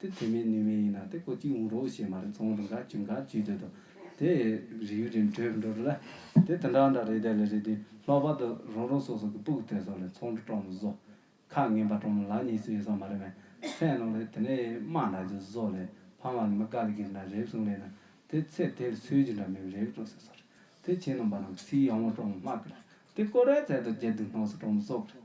དེ་དེ་མིན་ནུས་མིན་ཡིན་ན་དེ་ཁོ་གཅིག་འོང་རོགས་ཞེས་མ་རེད་ཚོང་དང་ག་གྱོན་ག་གྱོད་དོད་དོ་དེ། རིགས་ཡུལ་རིམ་གྲོས་འགྲོ་རུ་ལ། དེ་དེ་འདྲ་འདྲ་རེད་དེ་ལས་རེད་དེ་ལྷག་པར་དུ་རང་རང་སོ་སོ་གི་སྤུག་དེ་སོགས་ལས་ཚོང་འདྲི་སྤྲོ་མི་བཟོ། ཁ་ངན་པ་སྤྲོ་མི་ལ་གཉིས་སུ་ཡོད་ས་མ་རེད་མས་ཚན་ནང་ལས་དེ་ནས་དམའ་འདྲ་རྒྱུ་བཟོ་ལས་ཕ་མ་ལ་མི་དགའ་ལས་གིས་འདྲ་རེབ་སོང་ལས་ན་དེ་ཚེ་དེ་ལས་ཚོལ་རྒྱུ་འདྲ་མིན་རེབ་སྤྲོ་ཟེར་སོ་རེད་དེ་ཁྱེད་རྣམས་པ་རྣམས་ཀི་སིའི་ཡང་མོ་སྤྲོ་མི་སྨྲ་གི་རེད་དེ་ཀོ་རེ་ཚལ་དང་རྒྱལ་དུག་སྣང་སུ་སྤྲོ་མི་བཟོ་གི་རེད་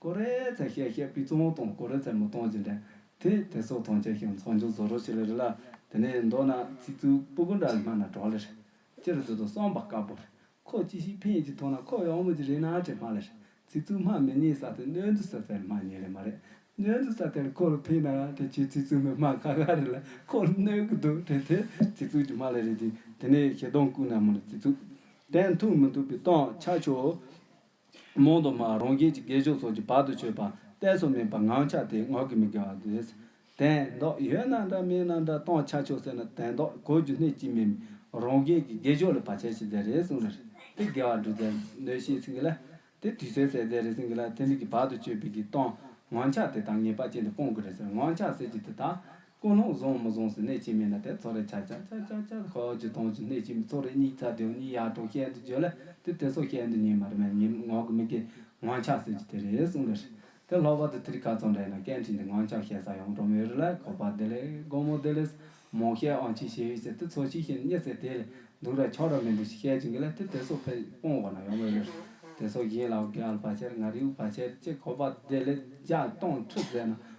ཀོ་རེ་ཚའི་གཤེད་གཤེད་སྤུས་གཙང་དང་ཀོ་རེ་ཚའི་མི་གཙང་ཇི་འདྲ། དེ་དེ་སོགས་ཐང་ཆད་ཞིང་ཚང་ཆུང་བཟོ་རོགས་བྱེད་ལེ་རེད་ལ་དེ་ནས་མདོར་ན་ཚིག་རྩུབ་སྤུ་གུ་འདྲ་སྨྲ་ན་གྲོགས་ལེ་རེད། སྤྱིར་བདུད་དང་སྲང་བར་དཀར་པོ་རེད། ཁོ་ཅི་ཞིག་ཕན་ཡོད་ཅེས་མཐོང་ན་ཁོ་ཡག་མོ་ཅིག་རེད་ན་ཅེས་སྨྲ་ལེ་རེད། ཚིག་རྩུབ་སྨྲ་མི་ཉན་ས་དེ་སྣོད་བདུད་ས་དེར་སྨྲ་ཉན་ལེ་མ་རེད། སྣོད་བདུད་ས་དེར་ཁོ་ལ་ཕན་ན་དེ་ཁྱོད་ཚིག་རྩུབ་མོའི་སྨྲ་ཁ་ཁ་རེད་ལ་ཁོ་ལ་གནོད་གི་འདུག་དེ་དེར་ཚིག་རྩུབ་ཀྱི་སྨྲ་ལེ་རེད་ཅིང་དེ་ནས་ཞེ་སྡང་ཀུན་ན་མོ་ལ་ཚིག་རྩུབ། བདེན་ཐུག་མི་འདུག་པའི་སྟངས་ཆགས་ཆོག། རྨོངས་དུ་མ་རང་རྒྱལ་གྱི་དགེ་སྦྱོར་སོགས་ཀྱི་བར་དུ་ཆོད་པ་གཏད་སོ་མིན་པར་ངག་འཆག་དེས་ངག་གི་མི་དགེ་བ་བཟློས། དན་རྟོག་ཡོད་ན་འདྲ་མེད་ན་འདྲ་སྟོང་ཆ་ཆོད་ཟེར་ན་དན་རྟོག་གོ་རྒྱུ་གནད་ཅི་མིན་རང་རྒྱལ་གྱི་དགེ་སྦྱོར་ལ་བར་ཆད་བྱེད་རྫས་རེ་ཟུང་ལ་དེ་དགེ་བ་འགྲུབ་རྫས་བཟློས་ཤེས་ཟིན་གྱི་ལ། དེ་དུས་ཟས་ཟད་རྫས་རེ་ཟིན་གྱི་ལ་དེ་འདི་གི་བར་དུ་ཆོད་པའི་གི་སྟོང་ངག་འཆག་དེ་དག་ངེས་པ་ཅན་དུ་སྤོང་དགོས་རེད་ཟེར་ངག་འཆག་ཟེར་གྱི་དེ་དག་ཀུན་སློང་བཟུང་མི་བཟུང་སོགས་གནད་གཅིག་མིན་ལ་དེ་ཚོགས་རེ་ཆག་ཆག་ཆག་ཆག་ཆག་ཧོ་ཅི་སྟོང་ཅི་གནད་གཅིག་མིན་ཚོགས་རེ་གཉིས་ཚ་དེའོ་གཉིས་ཡར་འགྲོ་ཤེས་འདི་བརྗོད་ལ་དེ་དེ་སོགས་ཤེས་འདི་ཉིད་མ་རེད་མ་ཉིད་ངག་གི་མི་དགེ་ངང་ཆགས་ཟེར་གྱི་དེ་རེད་གསུངས་པ་རེད་དེ་ལྷག་པར་དུ་ཐི་རི་ཁ་ཚོགས་འདྲ་ཡིན་ན་སྐད་འཕྲིན་དེ་ངང་ཆགས་ཤེས་ས་ཡང་འགྲོ་མི་རེད་ལ་ཁོ་པ་དེ་ལས་སྒོར་མོ་དེ་ལས་མང་ཤེས་ཨང་ཅི་ཤེས་ཡོད་ཟེར་དེ་ཚོ་ཞིག་ཤེས་རྙེད་ཟེར་དེ་ལས་སྡུག་ར་ཆགས་ར་མི་འདུག་ཞིག་བཤད་ཀྱི་འགི་ལ་དེ་དེ་སོགས་ཕེབས་སྤོང་འོག་ན་ཡོང་མི་རེད་དེ་སོགས་ཡིན་ལ་ཨོ་གེ་ཨལ་བ་ཆེར་ང་རིའུ་བ་ཆེར་ཅེས་ཁོ་པ་དེ་ལས་རྒྱ་སྟོང་ཁྲི་བཟས་ན་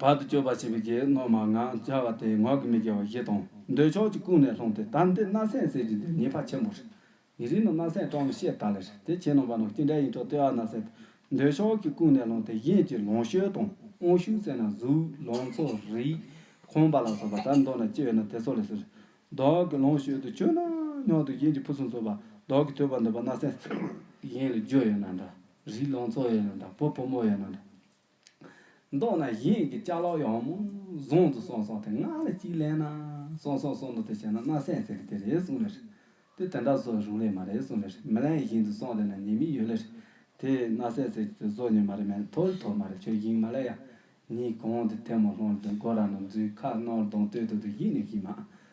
བར་དུ་གཅོད་པར་བྱེད་པའི་རྒྱའི་སྣོད་མ་ངག་འཇའ་བ་སྟེ་ངག་གིས་མི་དགེ་བ་བཞི་དང། འདོད་ཆགས་ཀྱི་ཀུན་ནས་ལྷུང་སྟེ་དམ་སྡེ་སྣ་སྲན་ཟེར་གྱི་འདི་ཉེས་པ་ཆེན་པོ་རེད། ཡི་རིགས་ནི་སྣ་སྲན་སྤྲང་བོའི་ཤེལ་དག་ལས་རེད་དེ་ཁྱེད་རྣམས་པ་ནང་སྐྱེས་འབྲས་ཡིན་ཆོག་ལྟེ་བ་སྣ་སྲན་དང་འདོད་ཆགས་ཀྱི་ཀུན་ནས་ལྷུང་སྟེ་གཞན་གྱི་ལོངས་སྤྱོད་དང་དབང་ཤུགས་བསྲེས་ན་གཟུགས་ལོངས་ཚོ་རིགས་ཁོང་པ་ལ་སོགས་པ་དར་མདོ་ན་སྐྱེས་ཡོད་ན་དེ་ཚོ་ལས་ཟེར། བདག་གི་ལོངས་སྤྱོད་དུ་སྤྱོད་ན་སྙོག་དུ་གཞན་གྱི་ཕུན་སུམ་ཚོགས་པ་བདག་གིས་ཐོས་པར་འདོད་པ་སྣ་སྲན། གཞན་ལ་རྒྱུ་ཡོད་ན་འདྲ་རིགས་ལོངས་ཚོ་ཡོད་ན་འདྲ་བུ་བུ་མོ་ཡོད་ན་འདྲ། མདོར་ན་གཞན་གྱི་ལྕགས་ལོག་ཡང་མོ་བཟང་དུ་སོང་སོང་དེ་སྔགས་ལ་གཅིག་ལན་ན་སོང་སོང་སོང་འདུག་དེ་བྱས་ན་སྣ་སད་ཟེར་གི་དེ་རེད་གསུངས་ལེར། དེ་དེ་འདྲ་བཟོ་རུང་ལེ་མ་རེད་གསུངས་ལེར་མི་ལན་བཞིན་དུ་སོང་དེ་ན་ཉེས་མིག་ཡོད་ལེར། དེས་སྣ་སད་ཟེར་གི་དེ་བཟོ་ཉེས་མ་རེད་མན་ཐོ་རི་ཐོ་མ་རེད་ཆོས་གཞིང་མ་ལ་ཡ། ཉིས་གང་དེ་ཐལ་མོ་ལྷོང་ལ་དུ་མགོ་ར་ན་འཛུལ་ཁ་ནོར་གདོང་སྟོད་དུ་དུ་ཡིད་ནི་ཞིག་མ།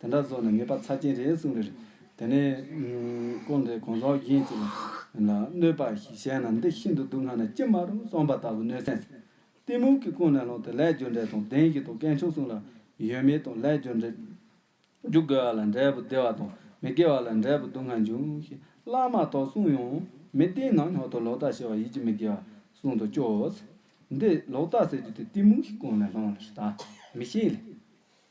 དེ་འདྲ་བཟོ་ནས་ངེས་པར་ཚར་གྱིན་རེད་གསུངས་པས། དེ་ནས། ཀུན་དགའི་གོང་ཟོག་གཞན་གཅིག་ལ། གནོད་པ་ཞིག་བྱས་ན་འདི་ཤིན་ཏུ་སྡུག་བསྔལ་ན་ཅི་མ་རུང་གསུངས་པ་ལྟ་བུ་གནོད་སེམས་སེམས། གཏི་མུག་གིས་ཀུན་ནས་སློང་སྟེ་ལས་རྒྱུ་འབྲས་དང་ལྡན་གྱི་དང་སྐལ་མཆོག་གསུངས་ལ། ཡོད་མེད་དང་ལས་རྒྱུ་འབྲས། རྒྱུ་དགེ་བ་ལ་འབྲས་བུ་བདེ་བ་དང་མི་དགེ་བ་ལ་འབྲས་བུ་སྡུག་བསྔལ་འབྱུང་ཞེས་བླ་མ་དག་གསུངས་ཡང། མི་བདེན་ན་ཉག་ཏུ་ལོག་ལྟ་བྱེད་པ་ཡིད་ཀྱི་མི་དགེ་བ་གསུངས་དང་སྐྱོ། འདི་ལོག་ལྟ་ཟེར་རྒྱུ་དེ་གཏི་མུག་གིས་ཀུན་ནས་སློང་ལ་ཞེས་དག་མི་ཤེས་ལས།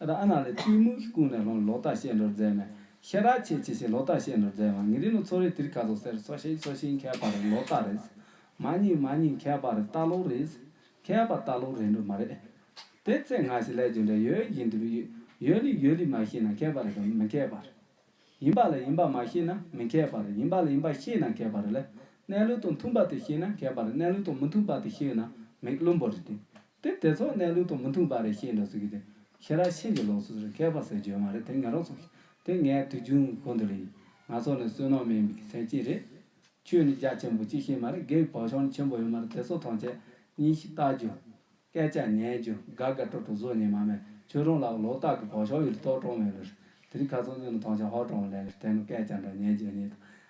ར་ཨ་ན་ལས་ཏུའུ་མུའུ་ཧི་ཀུང་ནས་ལོང་གི་ལོག་ལྟ་བཤད་འགྲོར་མཛད་ནས་ཤ་ར་ཆེ་ཆེ་ཞེས་ལོག་ལྟ་བཤད་འགྲོར་མཛད་བ་ངི་རི་ནུ་ཚོ་རི་དིར་ཁ་ཚོ་སེར་སོ་ཤིང་སོ་ཤིང་ཁལ་པ་རི་ལོག་ལྟ་རེད། མ་རྙིང་མ་རྙིང་ཁལ་པ་རི་ལྟ་ལོག་རེད། ཁལ་པ་ལྟ་ལོག་རེད་འགྲོ་མ་རེད། དེ་ཚེ་ང་ཞིག་ལས་ཀྱི་འདྲ་ཡོད་བཞིན་དུ་ཡོད་ལི་ཡོད་ལི་མ་ཤེས་ན་ཁལ་པ་རི་དང་མི་ཁལ་པ་རི། ཡིན་པ་ལ་ཡིན་པ་མ་ཤེས་ན་མི་ཁལ་པ་རི་ཡིན་པ་ལ་ཡིན་པ་ཤེས་ན་ཁལ་པ་རི་ལ་གནས་ལུགས་དང་མཐུན་པ་དེ་ཤེས་ན་ཁལ་པ་རི་གནས་ལུགས་དང་མི་མཐུན་པ་དེ་ཤེས་ན་མིག་བླུན་པོ་རི་དེ། དེ་དེ་ཚོ་གནས་ལུགས་དང་མི་མཐུན་པ་རེད་བཤད་འདུག་ཟེར་གི་དེ་ཁྱེད་རང་ཕྱིན་ཅི་ལོག་ཚོད་ཟེར་མཁས་པ་ཟེར་བརྗོད་མ་རེད་དེ་ངན་རོགས་ཚོ་དེ་ངའི་དུས་རྒྱུན་གི་གོ་འདུག་ལེ་ཡིན་ང་ཚོ་ནི་བསོད་ནམས་མེད་མི་ཐེན་ཅིག་རེད་ཁྱོད་ནི་རྒྱ་ཆེན་པོ་གཅིག་ཤེས་མ་རེད་དགེ་བའི་བག་ཆགས་ནི་ཆེན་པོ་ཡོད་མ་རེད་དེ་ཚོ་ཐམས་ཅད་ཉིན་ཞིག་བལྟ་རྒྱུ། སྐད་ཆ་ཉན་རྒྱུ་དགའ་དགའ་སྤྲོ་སྤྲོ་བཟོ་ཉན་མ་མེད་ཁྱོད་རང་ལ་ལོག་ལྟ་གི་བག་ཆགས་ཡོད་རེད་ལྟོགས་གྲོགས་མེད་ལོ་རེད་དེ་རིང་ཁ་ཚོན་གཉིས་ནི་ཐང་ཆེན་ཧོར་གྲོང་ལས་ལས་བལྟས་ནས་སྐད་ཆ་འདྲ་ཉན་རྒྱུ་གཉིས་དང་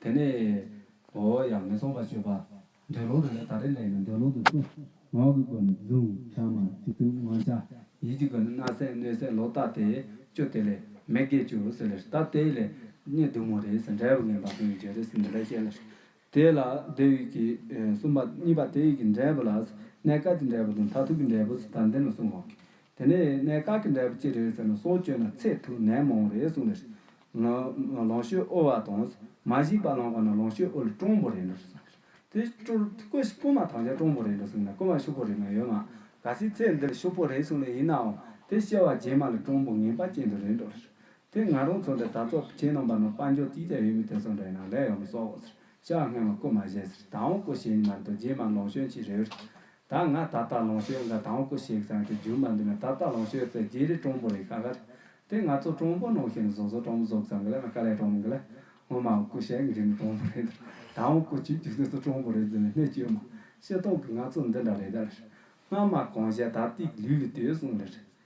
དེ་ནས་ཨོ་ཡང་མི་གསུང་བར་བྱོས་པ། འདོད་ལུང་དུ་ནི་ད་རེས་ལེགས་ན་འདོད་ལུང་དུ་སུ། ངག་གི་སྒོ་ནས་བརྫུན་བྱར་མ་བྱེད་ཐུགས་མངོན་བྱ། ཡིད་ཀྱི་སྒོ་ནས་སྣ་སེན་སྣོད་སེན་ལོ་བཏགས་ཏེ་བཅུ་དེ་ལས་མེད་དགེ་བཅུ་ཟེར་ལེར་བཏགས་དེ་ལས་གཉིས་བདུན་མོ་རེ་ཟེར་འབྲས་བུ་ངན་པ་ཀུན་གྱི་རྗེས་རེ་ཟེར་འདི་འདྲ་བཤད་ལེར། དེ་ལ་དེ་ཡིག་གི་གསུམ་པ་གཉིས་པ་དེ་ཡིག་གི་འབྲས་བུ་ལ། སྣའི་དཀར་གྱི་འབྲས་བུ་དང་མཐར་ཐུག་གི་འབྲས་བུ་སུ་དང་འདི་ནི་གསུང་ངོགས་ཀྱི་དེ་ནས་གནས་བཀག་གི་འབྲས་བུ་ཅི་རེད་ཟེར་ན་སྲོག་གཅོད་ན་ཚེ་ཐུག་ནད་མང་རེད་གསུངས་ནས། ལོངས་སྤྱོད་དབུལ་བ་དང་མ་གཞིག་པ་ལོངས་བ་ན་ལོངས་སྤྱོད་དབུལ་སྤྲང་པོ་རེད་འགྲོ་གསུངས་ནས། དེ་སྐུ་སྐུ་མ་ཐང་ཆ་སྤྲང་པོ་རེད་འགྲོ་གསུངས་ནས་སྐུ་མ་ཤུག་པོ་རེད་མ་ཡོད་མ་ག་སྲིད་ཚེ་འདིར་ཤུག་པོ་རེད་གསུངས་ནས་ཡིན་ནའང་དེ་སྐྱེ་བ་རྗེས་མ་ལ་སྤྲང་པོ་ངན་པ་ཅན་དུ་རེད་འགྲོ་ཟེར། དེ་ང་རང་ཚོ་འདི་ད་ཚོགས་ཆེན་རྣམས་པ་ན་དཔའ་འབྱོར་ཅིག་ཅར་ཡོད་མི་དེ་ཚོ་འདྲ་ཡིན་ན་ལས་ཡོང་མི་སོགས་ཟེར་ཤག་སྔས་མ་སྐུ་མ་བཞེས་ཟེར་ད་འོང་སྐུ་བཞེས་ནི་མ་རེད་དོ་རྗེས་མ་ལོངས་སྤྱོད་ཅི་རེད། ད་ང་ད་ལྟ་ལོངས་སྤྱོད་འགའ་དང་པོ་ཞིག་ཙམ་གྱི་རྒྱུ་མ་འདུག་ན་ད་ལྟ་ལོངས་སྤྱོད་ཚེ་རྗེས་རི་གྲོང་པོ་རེད་ཁ་ཁར། དེ་ང་ཚོ་གྲོང་པོ་ནང་ཞིག་ནས་བཟོ་བཟོ་གྲོང་པོ་བཟོ་ཙམ་གི་ལ་ན་དཀའ་ལས་གྲོང་པོ་འགའ་ལ་སྔོན་མ་ཀུ་ཤའི་འགྲིམ་པའི་གྲོང་པོ་རེད་དར་ད་ཨང་ཀུ་བྱུས་རྒྱུ་དེ་ཚོ་གྲོང་པོ་རེད་ཟེར་ནས་སྣེ་བཅོས་མ་ཤེས་སྟོང་གི་ང་ཚོ་འདི་འདྲ་རེད་དར། སྔ་མ་གང་བཤད་ད་ལྟའི་ལུས་ལས་དེ་གསུངས་ལར།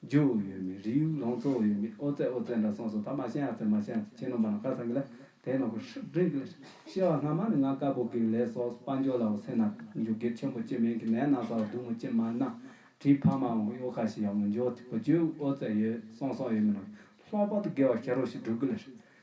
རྗེ་བོ་ཡོད་མེད་རིགས་དབྱུག་ལང་ཚོ་ཡོད་མེད་ཨོ་རྩལ་ཨོ་རྩལ་འདྲ་སོང་སོང་ད་མ་ཤེས་ཨ་ཚེ་མ་ཤེས་ཨ་ཚེ་ཁྱེད་ནོངས་པ་ན་ཁ་སང་གི་ལ་དེ་ནོངས་པ་ཧྲིག་ཧྲིག་གི་ཤེས་བ་སྔ་མ་ནི་ང་དཀར་པོ་གིས་ལས་སོགས་དཔའ་འབྱོར་ལ་འོ་སེ་ན་འཇུག་སྒེར་ཆེན་པོ་ཅི་མིན་གི་ནས་ན་ས་བ་དུ་མ་ཅི་མ་ན་བྲིས་ཕ་མ་འོང་གཡོ་ཁ་ཞིག་ཡང་མི་འཇོག་ཐིག་པ་བརྗོད་ཨོ་རྩལ་ཡོད་སོང་སོང་ཡོད་མེད་ནོངས་ལྷག་པར་དུ་དགེ་བ་ཤ་རོ་ཞིག་བསྒྲུབ་གི་ལ་ཧྲིག་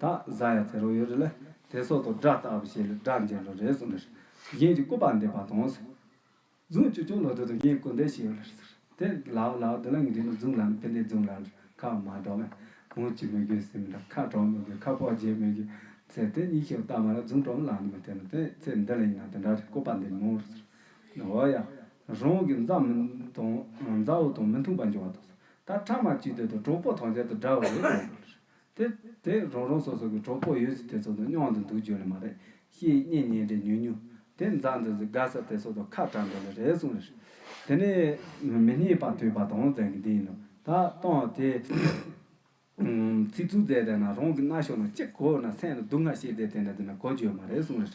དང་བཟའ་ཡ་ཚེ་རོགས་ཡོད་རེད་ལ་དེ་སོགས་དང་སྒྲ་རྟག་པ་ཞེས་ལ་སྒྲ་འཇལ་ལོ་རེད་གསུངས་ལར། གཞན་གྱི་སྐུ་པར་འདེབས་པ་དང། རྫུན་བཅོས་ཅུང་ལོ་དོད་དང་གཞན་སྐུ་འདེབས་བྱས་ཡོད་ལར་ཟེར། དེ་ལའོ་ལའོ་དེ་ལ་ངེད་རིགས་ནི་རྫུན་ལམ་ཕན་བདེའི་རྫུན་ལམ་ལ་ཁ་མ་གྲགས་མོད། མོ་ཅི་མི་དགོས་ཟེར་མི་འདྲ་ཁ་གྲགས་མི་དགོས་ཁ་ཕོག་བརྗེས་མི་དགོས། ཟེར་དེ་གཉིས་ཤིག་བཏང་བ་ལ་རྫུན་གྲོགས་མོ་ལག་ནས་མི་བསྟན་ནོ་དེ་ཚེ་འདི་ལ་ཡིན་ན་དེ་འདྲ་རེད་སྐུ་པར་འདེབས་མོ་རུ་ཟེར། འོ་ཡ། རང་གི་མཛའ་མོ་དང་མཛའ་བོ་དང་མི་མཐུན་པ་འབྱུང་བ་དང། ད་ཕྲ་མ་གཅིག་སྡོད་དང་གྲོགས་པོ་ཐམས་ཅད་དང་འདྲ་བ་རེད་གསུངས་ལར། དེ་དེ་རང་རང་སོ་སོ་གི་གྲོགས་པོ་ཡོད་ཚུལ་དེ་ཚོ་དང་སྙོང་དུ་འདུག་རྒྱུ་ལས་མ་རེད་ཤེས་གཉིས་གཉེན་འབྲེལ་ཉུང་ཉུང་དེ་མཛའ་འདོད་ཚོ་དགའ་ས་དེ་ཚོ་དང་ཁ་གྲགས་འདོད་ལས་རེ་ཟུང་རེད། དེ་ནས་མི་སྙིང་པ་དུད་པ་དང་ཟེར་གི་འདི་ཡིན་ནོ་ད་ལྟའང་དེ་ཚིག་རྩུབ་མཛད་དེ་ན་རང་གི་རྣ་གཤོག་ན་གཅིག་གོ་ན་སེམས་ན་སྡུག་བསྔལ་ཤེས་དེ་དེ་ན་དེ་ན་གོ་རྒྱུ་ཡོད་མ་རེ་ཟུང་རེད།